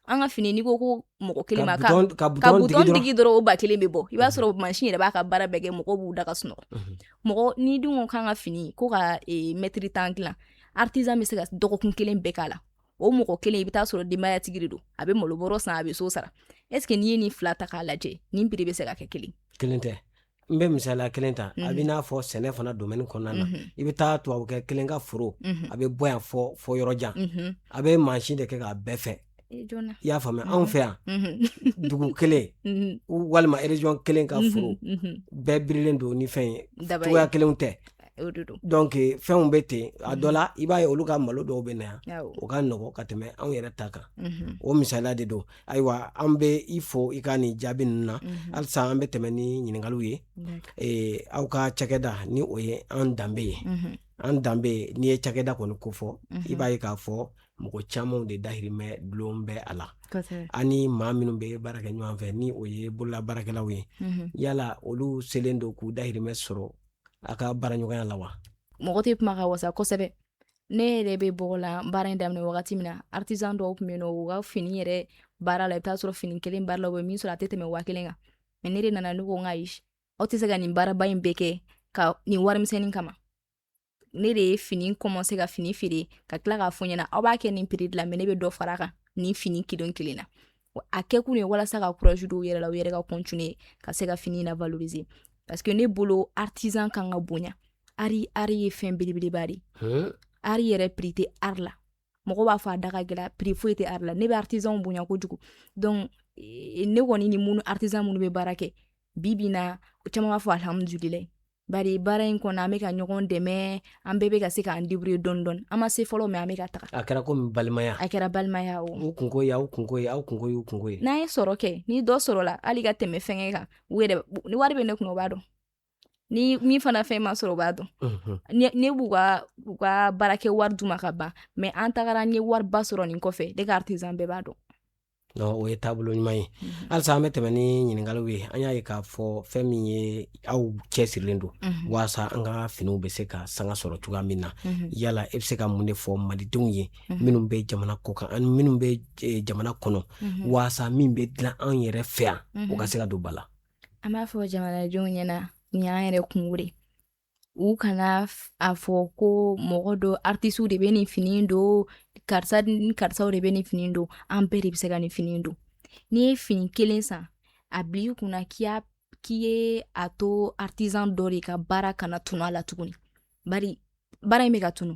an ka fini n'i ko ko mɔgɔ kelen ma ka ka butɔn digi dɔrɔn o ba kelen bɛ bɔ i b'a sɔrɔ mansin yɛrɛ b'a ka baara bɛɛ kɛ mɔgɔw b'u da ka sunɔgɔ mhm. mɔgɔ n'i dun ko k'an ka fini ko ka mɛtiri tan dilan artisan bɛ se ka dɔgɔkun kelen bɛɛ k'a la o mɔgɔ kelen i bɛ taa sɔrɔ denbayatigi de don a bɛ malobɔrɔ san a bɛ so sara est ce que n'i ye nin fila ta k'a lajɛ nin piri bɛ se ka kɛ kelen kelen tɛ n bɛ misaliya kelen ta a bɛ mhm. n'a fɔ sɛnɛ fana domɛni kɔnɔna na mhm. i bɛ taa tubabukɛ kelen ka foro mhm. a bɛ bɔ yan fɔ fɔ yɔrɔ jan a bɛ mansin de kɛ k'a bɛɛ fɛ i y'a faamuya anw fɛ yan dugu kelen walima erezɔn kelen ka foro bɛɛ birilen don ni fɛn ye cogoya kelenw tɛ dɔnc fɛnw bɛ ten a dɔ la i b'a ye olu ka malo dɔw bɛ na yan u ka nɔgɔ ka tɛmɛ anw yɛrɛ ta kan o misaliya de don ayiwa an bɛ i fo i ka nin jaabi ninnu na halisa an bɛ tɛmɛ ni ɲininkaliw ye aw ka cakɛda ni o ye an danbe ye an danbe n'i ye cakɛda kɔni ko fɔ i b'a ye k'a fɔ mɔgɔ camanw de dahirimɛ dulon bɛ a la ani maa minnu bɛ baara kɛ ɲɔgɔn fɛ ni o ye bolola baarakɛlaw ye yala olu selen don k'u dahirimɛ sɔrɔ a ka baaraɲɔgɔnya la wa mɔgɔ tɛ kuma ka wasa kosɛbɛ ne yɛrɛ bɛ bɔgɔlan baara in daminɛ wagati min na artisan dɔw tun bɛ yen nɔ u ka fini yɛrɛ baara la i bɛ t'a sɔrɔ fini kelen baara la u bɛ min sɔrɔ a tɛ tɛmɛ waa kelen kan mɛ ne de nana ne ko n ka ayi aw tɛ se ka nin baaraba in bɛɛ kɛ ka nin warimisɛnnin kama ne de ye fini kɔmanse ka fini feere ka tila k'a fɔ ɲɛna aw b'a kɛ nin piri de la mɛ ne bɛ dɔ fara a kan nin fini kelen kelen na a kɛ kun ye walasa ka courage don u yɛrɛ la u yɛrɛ ka continuer ka se ka fini na valoriser parce que ne bolo artisan kan ka bonya ari ari ye fɛn belebeleba de ari yɛrɛ prix tɛ ari la mɔgɔ b'a fɔ a da ka gɛlɛn prix foyi tɛ ari la ne bɛ artisanw bonya kojugu donc ne kɔni ni minnu artisan minnu bɛ baara kɛ bi bi in na o caman b'a fɔ alihamudulila bari baara in kɔnɔ an bɛ ka ɲɔgɔn dɛmɛ an bɛɛ bɛ ka se k'an débrouiller dɔɔni dɔɔni an ma se fɔlɔ mɛ an bɛ ka taga a kɛra komi balimaya a kɛra balimaya o u kunko ye aw kunko ye aw kunko y'u kunko ye n'an ye sɔrɔ kɛ ni dɔ sɔrɔla hali ka tɛmɛ fɛngɛ kan u yɛrɛ ni wari bɛ ne kun o b'a dɔn ni min fana fɛn ma sɔrɔ u b'a dɔn ne b'u ka u ka baarakɛ wari d'u ma ka ban mɛ an tagara an ye wariba sɔrɔ nin kɔfɛ ne ka artisan bɛɛ b'a dɔn o ye taabolo ɲuman ye mhm. halisa an bɛ tɛmɛ ni ɲininkaliw ye an y'a ye k'a fɔ fɛn min ye aw cɛsirilen don mhm. waasa an ka finiw bɛ se ka sanga sɔrɔ cogoya min na mhm. yala e bɛ se ka mun de fɔ malidenw ye minnu bɛ jamana kɔ kan ani minnu bɛ e, jamana kɔnɔ waasa min bɛ dilan an yɛrɛ fɛ yan o ka se ka don ba la an b'a fɔ jamanadenw ɲɛna nin y'an yɛrɛ kunko de u kana a fɔ ko mɔgɔ dɔ artisiw de bɛ nin fini don karisa ni karisaw de bɛ nin fini don an bɛɛ de bɛ se ka nin fini don n'i ye fini kelen san a bila i kunna k'i ye a to artisan dɔ de ka baara kana tunu a la tuguni bari baara in bɛ ka tunu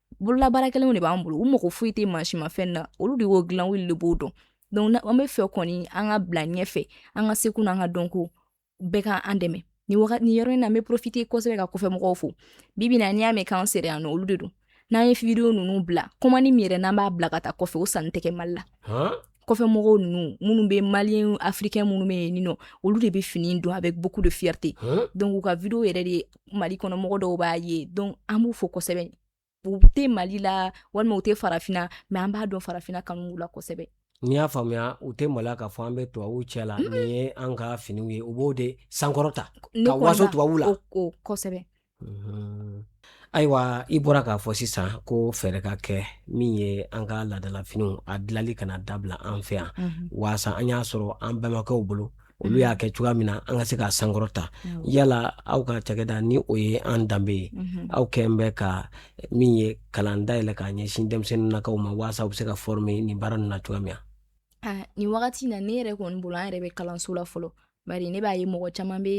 bololabaarakɛlenw de b'an bolo u mago foyi tɛ mansimafɛn na olu de y'o dilan olu de b'o dɔn donc an b'a fɛ kɔni an ka bila ɲɛfɛ an ka seko n'an ka dɔnko bɛɛ ka an dɛmɛ nin wagati nin yɔrɔ in na n bɛ profiter kosɛbɛ ka kɔfɛ mɔgɔw fo bibi na n'i y'a mɛn k'an sera yan nɔ olu de don n'an ye video ninnu bila commande min yɛrɛ n'an b'a bila ka taa kɔfɛ o sanni tɛ kɛ mali la kɔfɛ mɔgɔw ninnu minnu bɛ maliyɛn afirikɛn minnu bɛ yen nɔ olu de bɛ fini don avec beaucoup de fierté donc u ka video yɛrɛ de mali kɔnɔ mɔgɔ dɔw b'a ye donc an b'u fo kosɛbɛ u tɛ mali la walima u tɛ farafina mais an b'a dɔn farafina kanu b'u la kosɛbɛ n'i y'a faamuya u tɛ maloya k'a fɔ an bɛ tubabuw cɛ la nin ye an ka finiw ye u b'o de sankɔrɔta ka waso tubabuw la kosɛbɛ ayiwa i bɔra k'a fɔ sisan ko fɛɛrɛ ka kɛ min ye an ka laadalafiniw a dilanli kana dabila an fɛ yan waasa an y'a sɔrɔ an bɛnbakɛw bolo olu y'a kɛ cogoya min na an ka se k'a sankɔrɔta yala aw ka cakɛda ni o ye an danbe ye aw kɛlen bɛ ka min ye kalan dayɛlɛ k'a ɲɛsin denmisɛnninkaw ma waasa u bɛ se ka former nin baara ninnu na cogoya min na nin wagati na ne yɛrɛ kɔni bolo an yɛrɛ bɛ kalanso la fɔlɔ bari ne b'a ye mɔgɔ caman bɛ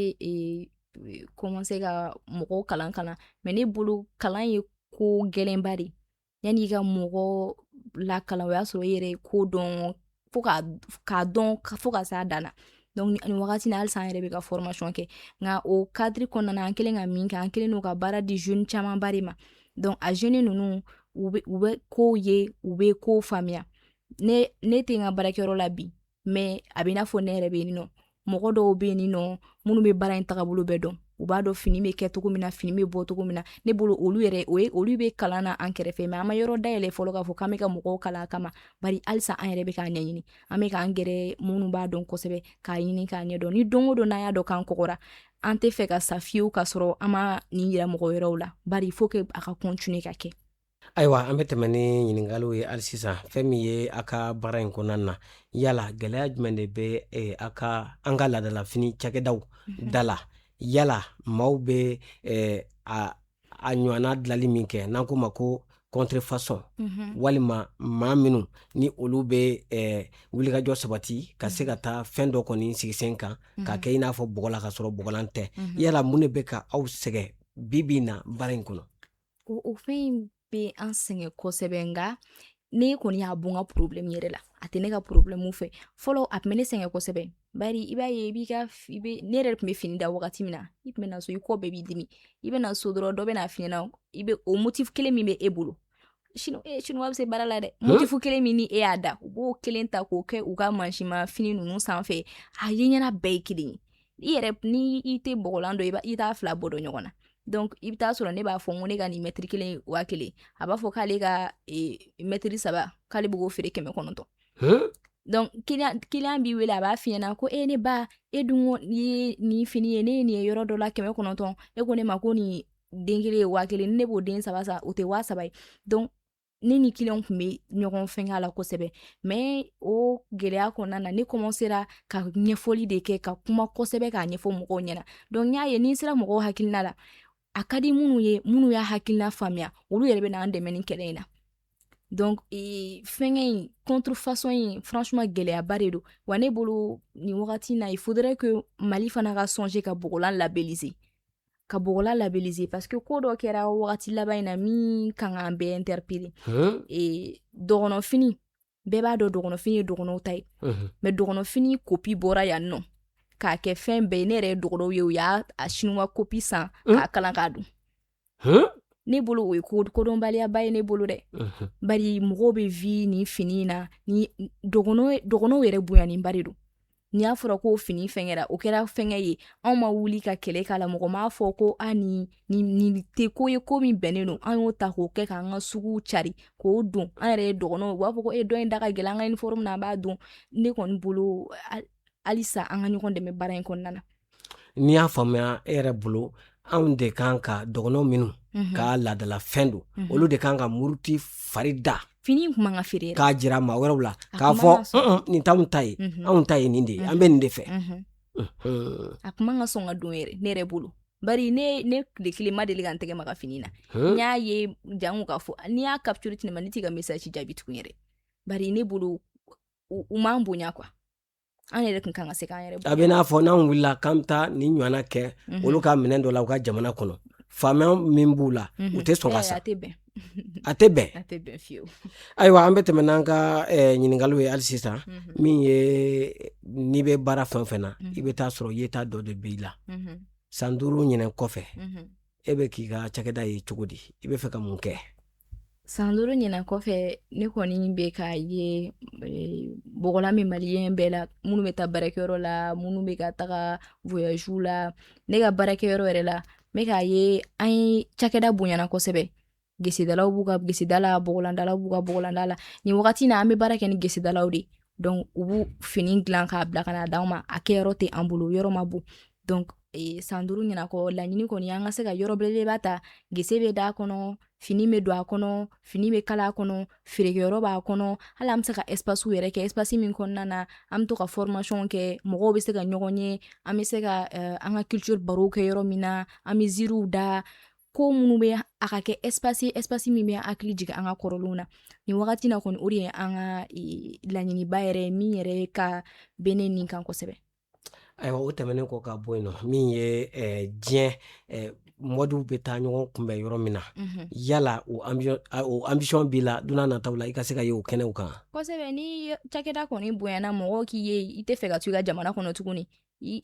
kɔmanse ka mɔgɔw kalan kalan mais ne bolo kalan ye ko gɛlɛnba de yanni i ka mɔgɔ lakalan o y'a sɔrɔ i yɛrɛ ye ko dɔn fo k'a dɔn fo ka s'a dan na donc nin wagati na halisa an yɛrɛ bɛ ka formation kɛ nka o kadiri kɔnɔna na an kɛlen ka min kɛ an kɛlen don ka baara di jeune camanba de ma donc a jeune ninnu u bɛ kow ye u bɛ kow faamuya ne ne tɛ n ka baarakɛyɔrɔ la bi mais a bɛ i n'a fɔ ne yɛrɛ bɛ yen nɔ mɔgɔ dɔw bɛ yen nɔ minnu bɛ baara in tagabolo bɛɛ dɔn u b'a dɔn fini bɛ kɛ cogo min na fini bɛ bɔ cogo min na ne bolo olu yɛrɛ o ye olu bɛ kalan na an kɛrɛfɛ mais an ma yɔrɔ dayɛlɛ fɔlɔ k'a fɔ k'an bɛ ka mɔgɔw kalan a kama bari halisa an yɛrɛ bɛ k'a ɲɛɲini an bɛ k'an gɛrɛ minnu b'a dɔn kosɛbɛ k'a ɲini k'a ɲɛdɔn ni don o don n'an y'a dɔn k'an kɔgɔra an tɛ fɛ ka sa fiyewu k'a sɔrɔ an ma nin yira mɔgɔ wɛrɛw la bari il faut que a ka continuer ka kɛ Ayiwa an bɛ tɛmɛ ni ɲininkaliw ye hali sisan fɛn min ye a ka baara in kɔnɔna na yala gɛlɛya jumɛn de bɛ eh, a ka an ka laadalafini cakɛdaw mhm. da la yala maaw bɛ eh, a a ɲɔgɔnna dilali min kɛ n'an k'o ma ko contrefaçon mhm. walima maa minnu ni olu bɛ eh, wulikajɔ sabati ka se ka mhm. taa fɛn dɔ kɔni sigi sen kan k'a kɛ i n'a fɔ bɔgɔlan k'a sɔrɔ bɔgɔlan tɛ yala mun de bɛ ka aw sɛgɛn bi bi in na baara in kɔnɔ O o fɛn in bɛ an sɛgɛn kosɛbɛ nka ne kɔni y'a bɔ n ka problème yɛrɛ la a tɛ ne ka problème fɛ fɔlɔ a tun bɛ ne sɛgɛn kosɛbɛ bari i b'a ye i b'i ka i bɛ ne yɛrɛ tun bɛ fini da wagati min na i tun bɛ na so i kɔ bɛɛ b'i dimi i bɛ na so dɔrɔn dɔ bɛ n'a f'i ɲɛna i bɛ o motif kelen min bɛ e bolo sino e sinuwa bɛ se baara la dɛ motif kelen min ni e y'a da u b'o kelen ta k'o kɛ u ka mansinmafini ninnu sanfɛ a ye ɲɛna bɛɛ ye kelen ye i yɛrɛ ni i tɛ bɔgɔlan dɔn i t'a fila bɔ dɔn ɲɔgɔn na donc i bɛ taa sɔrɔ ne b'a fɔ n ko ne ka nin mɛtiri kelen waa kelen a b'a fɔ k'ale ka mɛtiri saba k'ale bɛ k'o feere kɛmɛ kɔnɔntɔn donc kiliyan kiliyan b'i wele a b'a f'i ɲɛna ko e ne ba e dun ko ye nin fini ye ne ye nin ye yɔrɔ dɔ la kɛmɛ kɔnɔntɔn e ko ne ma ko nin den kelen ye waa kelen ni ne b'o den saba san o tɛ waa saba ye donc ne ni kiliyan tun bɛ ɲɔgɔn fɛn a la kosɛbɛ mais o gɛlɛya kɔnɔna na ne commencera ka ɲɛfɔli de kɛ ka kuma kosɛbɛ k'a ɲɛfɔ mɔgɔw ɲɛna donc n y'a ye ni n sera mɔgɔw hakilina la a ka di minnu ye minnu y'a hakilina faamuya olu yɛrɛ bɛ n'an dɛmɛ nin kɛlɛ in na donc e, fɛnkɛ in contrefaçon in franchement gɛlɛyaba de don wa ne bolo nin wagati na il faudra que Mali fana ka songer ka bɔgɔlan labelliser ka bɔgɔlan labelliser parce que ko dɔ kɛra wagati laban in na min kan k'an bɛɛ interpeller ee dɔgɔnɔfini bɛɛ b'a dɔn dɔgɔnɔfini ye dɔgɔnɔw ta ye mais dɔgɔnɔfini kopi bɔra yan nɔ k'a kɛ fɛn bɛɛ ye ne yɛrɛ ye dɔgɔnɔw ye u y'a a sinuwa kopi san k'a kala k'a don ne bolo o ye kodɔnbaliyaba ye ne bolo dɛ bari mɔgɔw bɛ vi nin fini in na ni dɔgɔnɔw yɛrɛ bonyaninba de don ni a fɔra ko fini fɛngɛra o kɛra fɛngɛ ye anw ma wuli ka kɛlɛ k'a la mɔgɔ m'a fɔ ko nin tɛ ko ye ko min bɛnnen don an y'o ta k'o kɛ k'an ka suguw cari k'o don an yɛrɛ ye dɔgɔnɔw u b'a fɔ ko e dɔ in da ka gɛlɛn an ka uniforme na an b'a don ne kɔni bolo halisa an ka ɲɔgɔn dɛmɛ baara in kɔnɔna na n'i y'a faamuya e yɛrɛ bolo anw de kan ka dɔgɔnɔw minnu ka laadala fɛn don olu de kan ka muruti fari da fini k'a jira maa wɛrɛw la k'a fɔ nin t'anw ta ye anw ta ye nin de ye an bɛ nin de fɛ a kuma ka sɔn ka don ne yɛrɛ bolo bari ne ne tile kelen ma deli ka n tɛgɛ maga fini na n y'a ye jango k'a fɔ n'i y'a capture ci ne ma ne t'i ka message jaabi tugun yɛrɛ bari ne bolo u m'an bonya quoi an yɛrɛ tun kan ka se k'an yɛrɛ a bɛ n'a fɔ n'an wulila k'an bɛ taa nin ɲɔgɔnna kɛ mhm. olu ka minɛn dɔ la u ka jamana kɔnɔ faamaya min b'u la mhm. u tɛ sɔn ka sa a tɛ bɛn a tɛ bɛn a tɛ bɛn fiyewu ayiwa an bɛ tɛmɛ n'an ka eh, ɲininkaliw ye hali sisan mhm. min ye n'i bɛ baara fɛn o fɛn na i bɛ taa sɔrɔ yeta dɔ de b'i la san duuru ɲinɛn kɔfɛ e bɛ k'i ka cakɛda ye cogo di i bɛ fɛ ka mun kɛ san duuru ɲinɛn kɔfɛ ne kɔni bɛ k'a ye eh, bɔgɔlan min maliyɛn bɛɛ la minnu bɛ taa baarakɛyɔrɔ la minnu bɛ ka taga voyagew la ne ka baarakɛyɔrɔ yɛrɛ la n bɛ k'a ye an ye cakɛda bonyana kosɛbɛ gesedalaw b'u ka geseda la bɔgɔlandalaw b'u ka bɔgɔlanda la nin wagati na an bɛ baara kɛ ni gesedalaw de donc u b'u fini dilan k'a bila ka na d'anw ma a kɛyɔrɔ tɛ an bolo yɔrɔ ma bon donc e, san duuru ɲinɛn kɔ laɲini kɔni an ka se ka yɔrɔ belebeleba ta gese bɛ d'a kɔnɔ fini bɛ don a kɔnɔ fini bɛ kala a kɔnɔ feerekɛyɔrɔ b'a kɔnɔ hali an bɛ se ka espacew yɛrɛ kɛ espace min kɔnɔna na an bɛ to ka formation kɛ mɔgɔw bɛ se ka ɲɔgɔn ye an bɛ se ka uh, an ka culture barow kɛ yɔrɔ min na an bɛ ziiriw da ko minnu bɛ a ka kɛ espace espace min bɛ hakili jigin an ka kɔrɔlenw na nin wagati na kɔni o de ye an ka laɲiniba yɛrɛ ye min yɛrɛ ka bɛ ne ni kan kosɛbɛ ayiwa o tɛmɛnen kɔ ka bɔ yen nɔ min ye diɲɛ modew bɛ taa ɲɔgɔn kunbɛn yɔrɔ min na mhm. yala o ambition b'i la don nataw la i ka se ka ye o kɛnɛw kan kosɛbɛ ni cakɛda kɔni bonyana mɔgɔw k'i ye i tɛ fɛ ka to i ka jamana kɔnɔ tuguni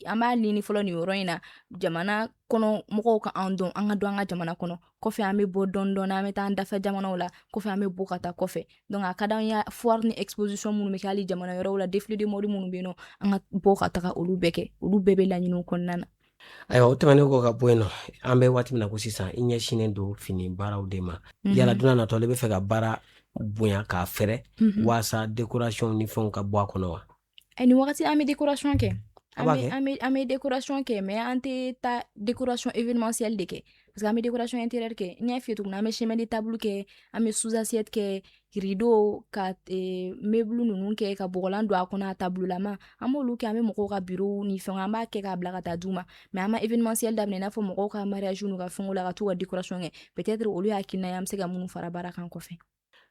an b'a ɲini fɔlɔ nin yɔrɔ in na jamana kɔnɔ mɔgɔw ka an dɔn an ka dɔn an ka jamana kɔnɔ kɔfɛ an bɛ bɔ dɔɔni dɔɔni an bɛ taa an dafɛ jamanaw la kɔfɛ an bɛ bɔ ka taa kɔfɛ donc a ka d'an ye foire ni exposition minnu bɛ kɛ hali jamana wɛrɛw la défilé de mode minnu bɛ yen nɔ an ka bɔ ka taga olu bɛɛ kɛ olu bɛɛ bɛ laɲiniw kɔnɔna na ayiwa o tɛmɛnen kɔ ka bɔ yen nɔ an bɛ waati min na ko sisan i ɲɛsinnen don fini baaraw de ma mhm. yala don nataw i bɛ fɛ ka baara bonya k'a fɛrɛ mhm. waasa décoration ni fɛnw ka bɔ a kɔnɔ wa Ɛ ni wagati an bɛ dekorasɔn kɛ an bɛ dekorasɔn kɛ mɛ an tɛ taa dekorasɔn emasili de kɛ parce que an bɛ dekurasɔn in tɛ kɛ n ɲɛ fiye tuguni an bɛ sɛmdi taabolo kɛ an bɛ susansɛ kɛ kiridon ka blu ninnu kɛ ka bɔgɔlan don a kɔnɔ a taabolola an b'olu kɛ an bɛ mɔgɔw ka bi ni fɛn an b'a kɛ k'a bila ka taa d u ma mɛ an ma e masili da n'a fɔ mɔgɔw ka mariz ka fɛn la ka taa ka dekurasɔn kɛ bɛɛtɛ olu y'a kɛ an bɛ se ka mun fara baara kan kɔfɛ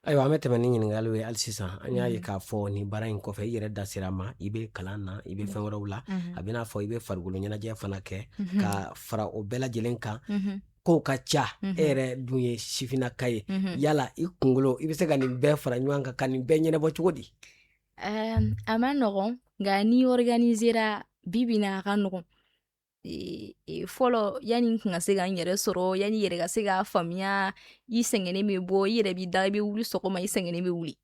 Ayiwa an bɛ tɛmɛ ni ɲininkaliw ye hali sisan an y'a ye k'a fɔ nin baara in kɔfɛ i yɛrɛ da sera a ma i bɛ kalan na i bɛ fɛn wɛrɛw la a bɛ n'a fɔ i bɛ farikolo ɲɛnajɛ fana kɛ ka fara o bɛɛ lajɛlen kan kow ka ca e yɛrɛ dun ye sifinnaka ye yala i kunkolo i bɛ se ka nin bɛɛ fara ɲɔgɔn kan ka nin bɛɛ ɲɛnabɔ cogo di a man nɔgɔn nka n'i organisera bi bi na a ka nɔgɔn fɔlɔ yanni n tun ka se ka n yɛrɛ sɔrɔ yanni yɛrɛ ka se k'a faamuya i sɛgɛnnen bɛ bɔ i yɛrɛ b'i da i bɛ wuli sɔgɔma i sɛgɛnnen bɛ wuli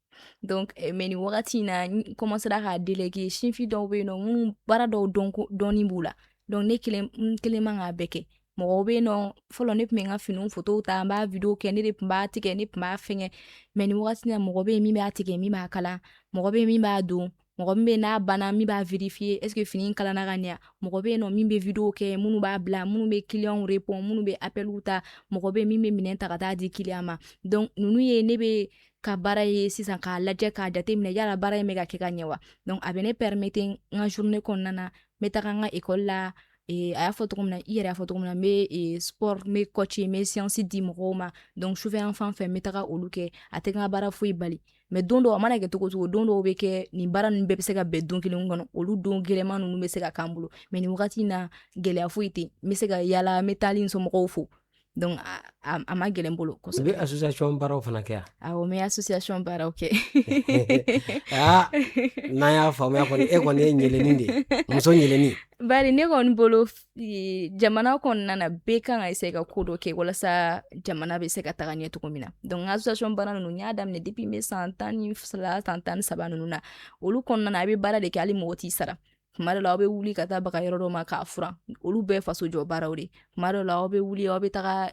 donc eh, mais nin wagati in na n commencera k'a déléguer sifin dɔw bɛ yen nɔ minnu baara dɔw dɔnni b'u la donc ne kelen n kelen man k'a bɛɛ kɛ mɔgɔw bɛ yen nɔ fɔlɔ ne tun bɛ n ka finiw fotow ta n b'a video kɛ ne de tun b'a tigɛ ne tun b'a fɛngɛ mais nin wagati na mɔgɔ bɛ yen min b'a tigɛ min b'a kalan mɔgɔ bɛ yen min b'a don mɔgɔ min bɛ n'a banna min b'a vérifier est ce que fini kalanna ka ɲɛ mɔgɔ bɛ yen nɔ min bɛ video kɛ minnu b'a bila minnu bɛ clients répond minnu bɛ appelw ta mɔgɔ bɛ yen min bɛ minɛn ta ka taa di client ma donc ninnu ye ne bɛ ka baara ye sisan k'a lajɛ k'a jateminɛ yala baara in bɛ ka kɛ ka ɲɛ wa donc a bɛ ne permettre n ka journée kɔnɔna na n bɛ taga n ka école la e, a y'a fɔ cogo min na i yɛrɛ y'a fɔ cogo min na n bɛ e, sport n bɛ coach n bɛ séance di mɔgɔw ma donc sufɛ yan fan fɛ n bɛ taga olu kɛ a tɛ n ka baara foyi bali mais don dɔw a mana kɛ cogo cogo don dɔw bɛ kɛ nin baara ninnu bɛɛ bɛ se ka bɛn don kelen kɔnɔ olu don gɛlɛman ninnu bɛ se ka k'an bolo mais nin wagati na gɛlɛya foyi tɛ n bɛ se ka yaala n bɛ taali n somɔgɔw fo donc a man gɛlɛn n bolo kosɛbɛ i bɛ association baaraw fana kɛ awɔ n bɛ association baaraw kɛ aa n'an y'a faamuya kɔni e kɔni ye ɲɛlɛni de ye muso ɲɛlɛni bari ne kɔni bolo jamana kɔnɔna na bɛɛ kan ka se ka ko dɔ kɛ walasa jamana bɛ se ka taga ɲɛ cogo min na donc n ka association baara ninnu n y'a daminɛ depuis n bɛ san tan ni fila san tan ni saba ninnu na olu kɔnɔna na a bɛ baara de kɛ hali mɔgɔ t'i sara tuma dɔ la aw bɛ wuli ka taa baga yɔrɔ dɔ ma k'a furan olu bɛɛ faso jɔ baaraw de tuma dɔ la aw bɛ wuli aw bɛ taga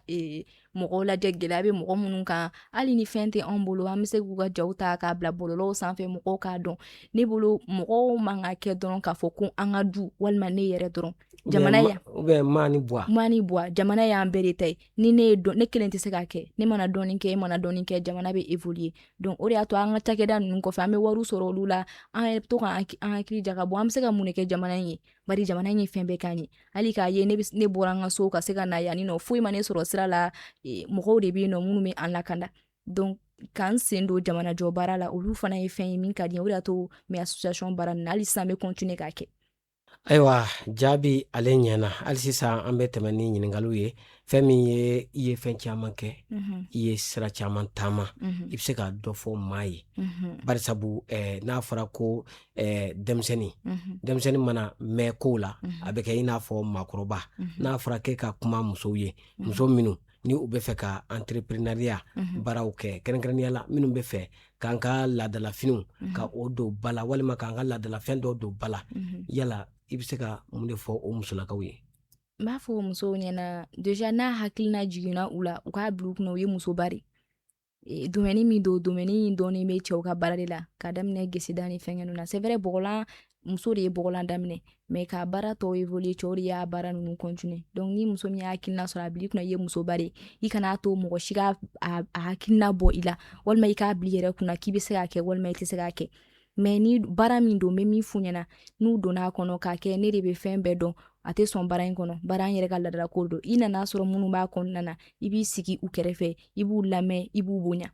mɔgɔw lajɛ gɛlɛya bɛ mɔgɔ minnu kan hali ni fɛn tɛ anw bolo an bɛ se k'u ka jaw ta k'a bila bɔlɔlɔw sanfɛ mɔgɔw k'a dɔn ne bolo mɔgɔw man ka kɛ dɔrɔn k'a fɔ ko an ka du walima ne yɛrɛ dɔrɔn jamana ya maani bɔ maani bɔ jamana y'an bɛɛ de ta ye ni ne ye ne kelen tɛ se k'a kɛ ne mana dɔɔni kɛ e mana dɔɔni kɛ jamana bɛ évoluer donc o de y'a to an ka cakɛda ninnu kɔfɛ an bɛ wariw sɔrɔ olu la an yɛrɛ bɛ to k'an hakili jagabɔ an bɛ se ka mun de kɛ jamana in ye bari jamana in ye fɛn bɛɛ k'an ye hali k'a ye ne bɔra n ka so ka se ka na yanni nɔ foyi ma ne sɔrɔ sira la e, mɔgɔw de bɛ yen nɔ minnu bɛ an lakanda donc k'an sen don jamana jɔ baara la olu fana ye fɛn ye min ka di n ye o de y'a to n bɛ association baara nin na hali sisan n bɛ continuer k'a kɛ ayiwa jaabi ale ɲɛna hali sisan an bɛ tɛmɛ ni ɲininkaliw ye fɛn min ye i ye fɛn caman kɛ mm-hmm. i ye sira caman taama mm-hmm. i bɛ se ka dɔ fɔ maa ye mm-hmm. barisabu eh, n'a fɔra ko eh, denmisɛnnin denmisɛnnin mana mɛn kow la a bɛ kɛ i n'a fɔ maakɔrɔba n'a fɔra k'e ka kuma musow ye muso minnu ni u bɛ fɛ ka entrepreneuriat baaraw kɛ kɛrɛnkɛrɛnnenya la minnu bɛ fɛ k'an ka laadalafiniw ka o don ba la walima k'an ka laadalafɛn dɔ don ba la yala i bɛ se ka mun de fɔ o musolakaw ye n b'a fɔ musow ɲɛna déjà n'a hakilina jiginna u la u k'a bila u kunna u ye musoba de e, domaine min don domaine in dɔɔni bɛ cɛw ka baara de la ka daminɛ geseda ni fɛnkɛ ninnu na c'est vrai bɔgɔlan muso de ye bɔgɔlan daminɛ mais ka baara tɔw évoluer cɛw de y'a baara ninnu continuer donc ni muso min y'a hakilina sɔrɔ a bila i kunna i ye musoba de i kana to mɔgɔ si ka a hakilina bɔ i la walima i k'a bila i yɛrɛ kunna k'i bɛ se k'a kɛ walima i tɛ se k'a kɛ mais ni baara min don n bɛ min f'u ɲɛna n'u donna a kɔnɔ k'a kɛ ne de bɛ fɛn bɛɛ dɔn a tɛ sɔn baara in kɔnɔ baara an yɛrɛ ka laadalako don i nana sɔrɔ minnu b'a kɔnɔna na i b'i sigi u kɛrɛfɛ i b'u lamɛn i b'u bonya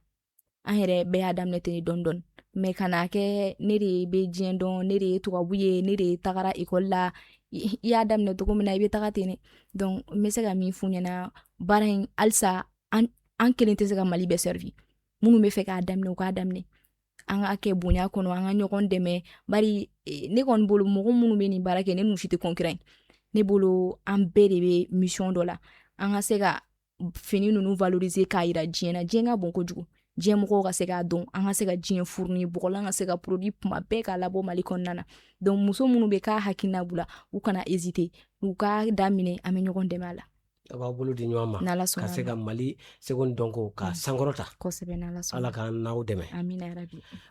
an yɛrɛ bɛɛ y'a daminɛ ten dɔɔni dɔɔni mais kan'a kɛ ne de bɛ diɲɛ dɔn ne de ye tubabu ye ne de tagara ekɔli la i y'a daminɛ cogo min na i bɛ taga ten dɛ donc n bɛ se ka min f'u ɲɛna baara in halisa an kelen tɛ se ka mali bɛɛ servir minnu bɛ fɛ k'a daminɛ u k'a daminɛ an k'a kɛ bonya kɔnɔ an ka ɲɔgɔn dɛmɛ bari e, ne kɔni bolo mɔgɔ minnu bɛ nin baara kɛ ne n'u si tɛ concurrent ne bolo an bɛɛ de bɛ mission dɔ la an ka se ka fini ninnu valoriser k'a yira diɲɛ na diɲɛ ka bon kojugu diɲɛ mɔgɔw ka se k'a dɔn an ka se ka diɲɛ fournir bɔgɔlan ka se ka produit kuma bɛɛ k'a labɔ mali kɔnɔna na donc muso minnu bɛ k'a hakilina b'u la u kana hésiter u k'a daminɛ an bɛ ɲɔgɔn dɛmɛ a la An b'an bolo di ɲɔgɔn ma ka se ka mali seko ni dɔnko k'a sankɔrɔta ala k'an n'aw dɛmɛ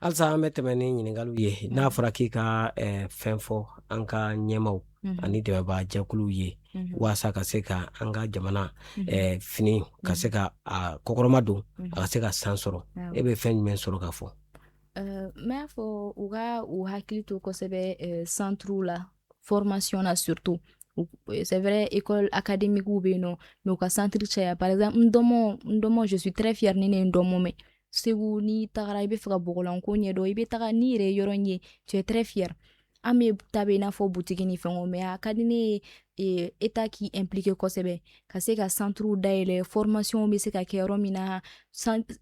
halisa an bɛ tɛmɛ ni ɲininkali ye n'a fɔra k'i ka fɛn fɔ an ka ɲɛmaaw ani dɛmɛbaajɛkuluw ye walasa ka se ka an ka jamana fini ka se k'a kɔkɔrɔmadon a ka se ka san sɔrɔ e bɛ fɛn jumɛn sɔrɔ ka fɔ n b'a fɔ u ka u hakili to kosɛbɛ centrew la formation na surtout euh, c'est vrai école académique o bɛ yen nɔ mais u ka centre caya par exemple ndomo ndomo je suis très fière ni ne ye ndomo mɛn segu n'i tagara i bɛ fɛ ka bɔgɔlanko ɲɛdɔn i bɛ taga n'i yɛrɛ ye yɔrɔ in ye tu es très fière an bɛɛ ta bɛ i n'a fɔ butigi ni fɛnw mais a ka di ne ye État k'i impliquer kosɛbɛ ka se ka centrew dayɛlɛ formationw bɛ se ka kɛ yɔrɔ min na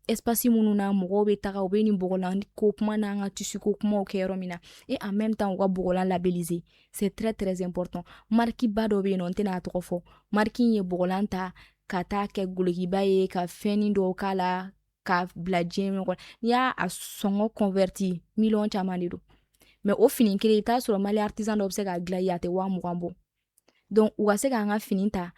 espace minnu na mɔgɔw bɛ taga u bɛ nin bɔgɔlan ko kuma n'an ka tissu ko kumaw kɛ yɔrɔ min na et en même temps u ka bɔgɔlan labelliser c'est très très important marqueba dɔ bɛ yen nɔ n tɛna a tɔgɔ fɔ marque in ye bɔgɔlan ta ka taa kɛ dulokiba ye ka fɛn dɔw k'a la ka bila diɲɛ ɲɔgɔn n'i y'a sɔngɔ convertir miliyɔn caman de don mais o fini kelen i t'a sɔrɔ mali artisan dɔw bɛ se k'a dilan a tɛ waa mugan bɔ donc u ka se k'an ka fini ta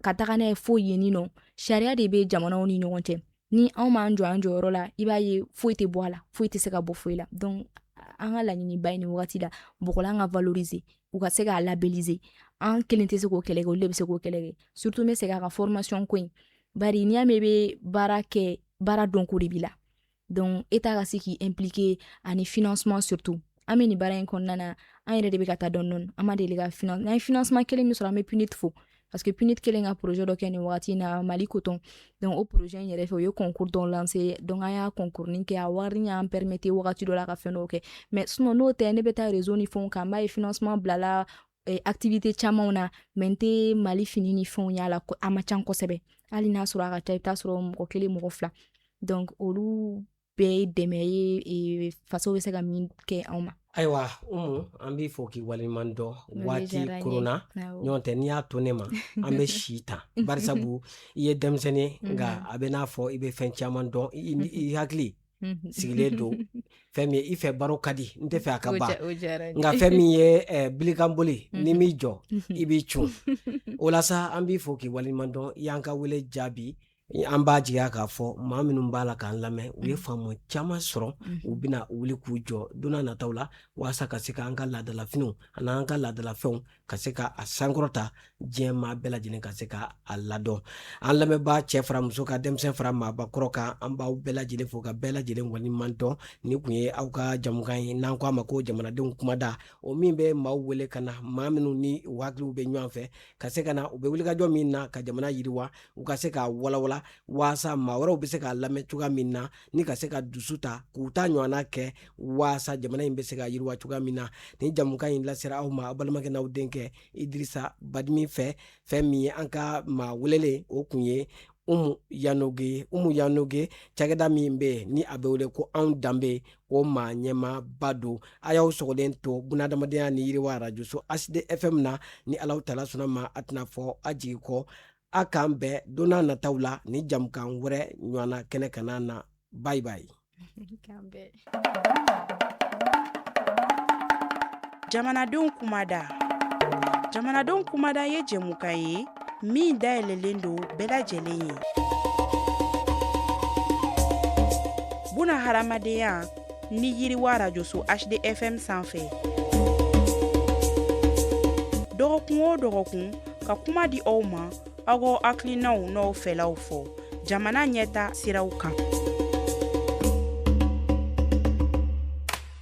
ka taga n'a ye fo yenni nɔ sariya de bɛ jamanaw ni ɲɔgɔn cɛ ni anw m'an jɔ an jɔyɔrɔ la i b'a ye foyi tɛ bɔ a la foyi tɛ se ka bɔ foyi la donc an ka laɲiniba ye nin wagati la bɔgɔlan ka valoriser u ka se k'a labelliser an kelen tɛ se k'o kɛlɛ kɛ olu de bɛ se k'o kɛlɛ kɛ surtout n bɛ segin a kan formation ko in bari n'i y'a mɛn i bɛ baara kɛ baara dɔnko de b'i la donc État ka se k'i impliquer ani financement surtout an bɛ nin baara in kɔnɔna na an yɛrɛ de bɛ ka taa dɔɔni dɔɔni an ma deli ka finance n'an ye financement kelen min sɔrɔ an bɛ PNUD fo parce que PNUD kelen ka projet dɔ kɛ nin wagati in na Mali coton donc o projet in yɛrɛ fɛ u ye concours dɔ lancer donc an y'a concours nin kɛ a wari y'an permettre wagati dɔ la ka fɛn dɔw kɛ mais sinon n'o tɛ ne bɛ taa réseau ni fɛnw kan n b'a ye financement bilala eh, activité camanw na mais n tɛ mali fini ni fɛnw y'a la a man ca kosɛbɛ hali n'a sɔrɔ a ka ca i bɛ t'a sɔrɔ mɔgɔ kelen mɔgɔ fila donc olu bɛɛ ye dɛmɛ ye eh, faso bɛ se ka min kɛ anw ma ayiwa umu an b'i fo k'i waleɲuman dɔn waati korona ɲɔgɔn tɛ n'i y'a to ne ma an bɛ si tan barisabu i ye denmisɛn ye nka a bɛ n'a fɔ i bɛ fɛn caman dɔn i hakili sigilen don fɛn min i fɛ baro ka di n tɛ fɛ a ka ban nka fɛn min ye bilikanboli ye n'i m'i jɔ i b'i cun o la sa an b'i fo k'i waleɲuman dɔn i y'an ka wele jaabi an b'a jigiya k'a fɔ maa minnu b'a la k'an lamɛn u ye faamu caman sɔrɔ u bɛna wuli k'u jɔ donna nataw la walasa ka se k'an ka laadalafiniw ani an ka laadalafɛnw ka se ka a sankɔrɔta diɲɛ maa bɛɛ lajɛlen ka se ka a ladɔn an lamɛnbaa cɛ fara muso kan denmisɛn fara maabakɔrɔ kan an b'aw bɛɛ lajɛlen fo ka bɛɛ lajɛlen waleɲuman dɔn nin kun ye aw ka jamukan ye n'an ko a ma ko jamanadenw kumada o min bɛ maaw wele ka na maa minnu ni u hakiliw bɛ ɲɔgɔn fɛ ka se ka na u bɛ wulikajɔ min na ka jamana yiriwa u ka se k'a walawala waasa maa wɛrɛw bɛ se k'a lamɛn cogoya min na ni ka se ka dusu ta k'u ta ɲɔgɔnna kɛ waasa jamana in bɛ se ka yiriwa cogoya min na ni jamukan in lasera aw ma aw balimakɛ n'aw denkɛ idirisa badimi fɛ fɛn min ye an ka maa welelen o kun ye umu yanoge umu yanoge cakɛda min bɛ yen ni a bɛ wele ko anw danbe o maa ɲɛmaaba don a y'aw sɔgɔlen to bunadamadenya ni yiriwa arajoso hd fm na ni alahu taala sɔnna ma a tɛna fɔ a jigi kɔ a k'an bɛn donna nataw la ni jamukan wɛrɛ ɲɔgɔnna kɛnɛ kanna na bye bye jamanadenw kumada jamanadenw kumada ye jɛmukan ye min dayɛlɛlen don bɛɛ lajɛlen ye bunadamadenya ni yiriwa arajoso hd fm sanfɛ dɔgɔkun o dɔgɔkun ka kuma di aw ma aw k'aw hakilinaw n'aw fɛlaw fɔ jamana ɲɛtaa siraw kan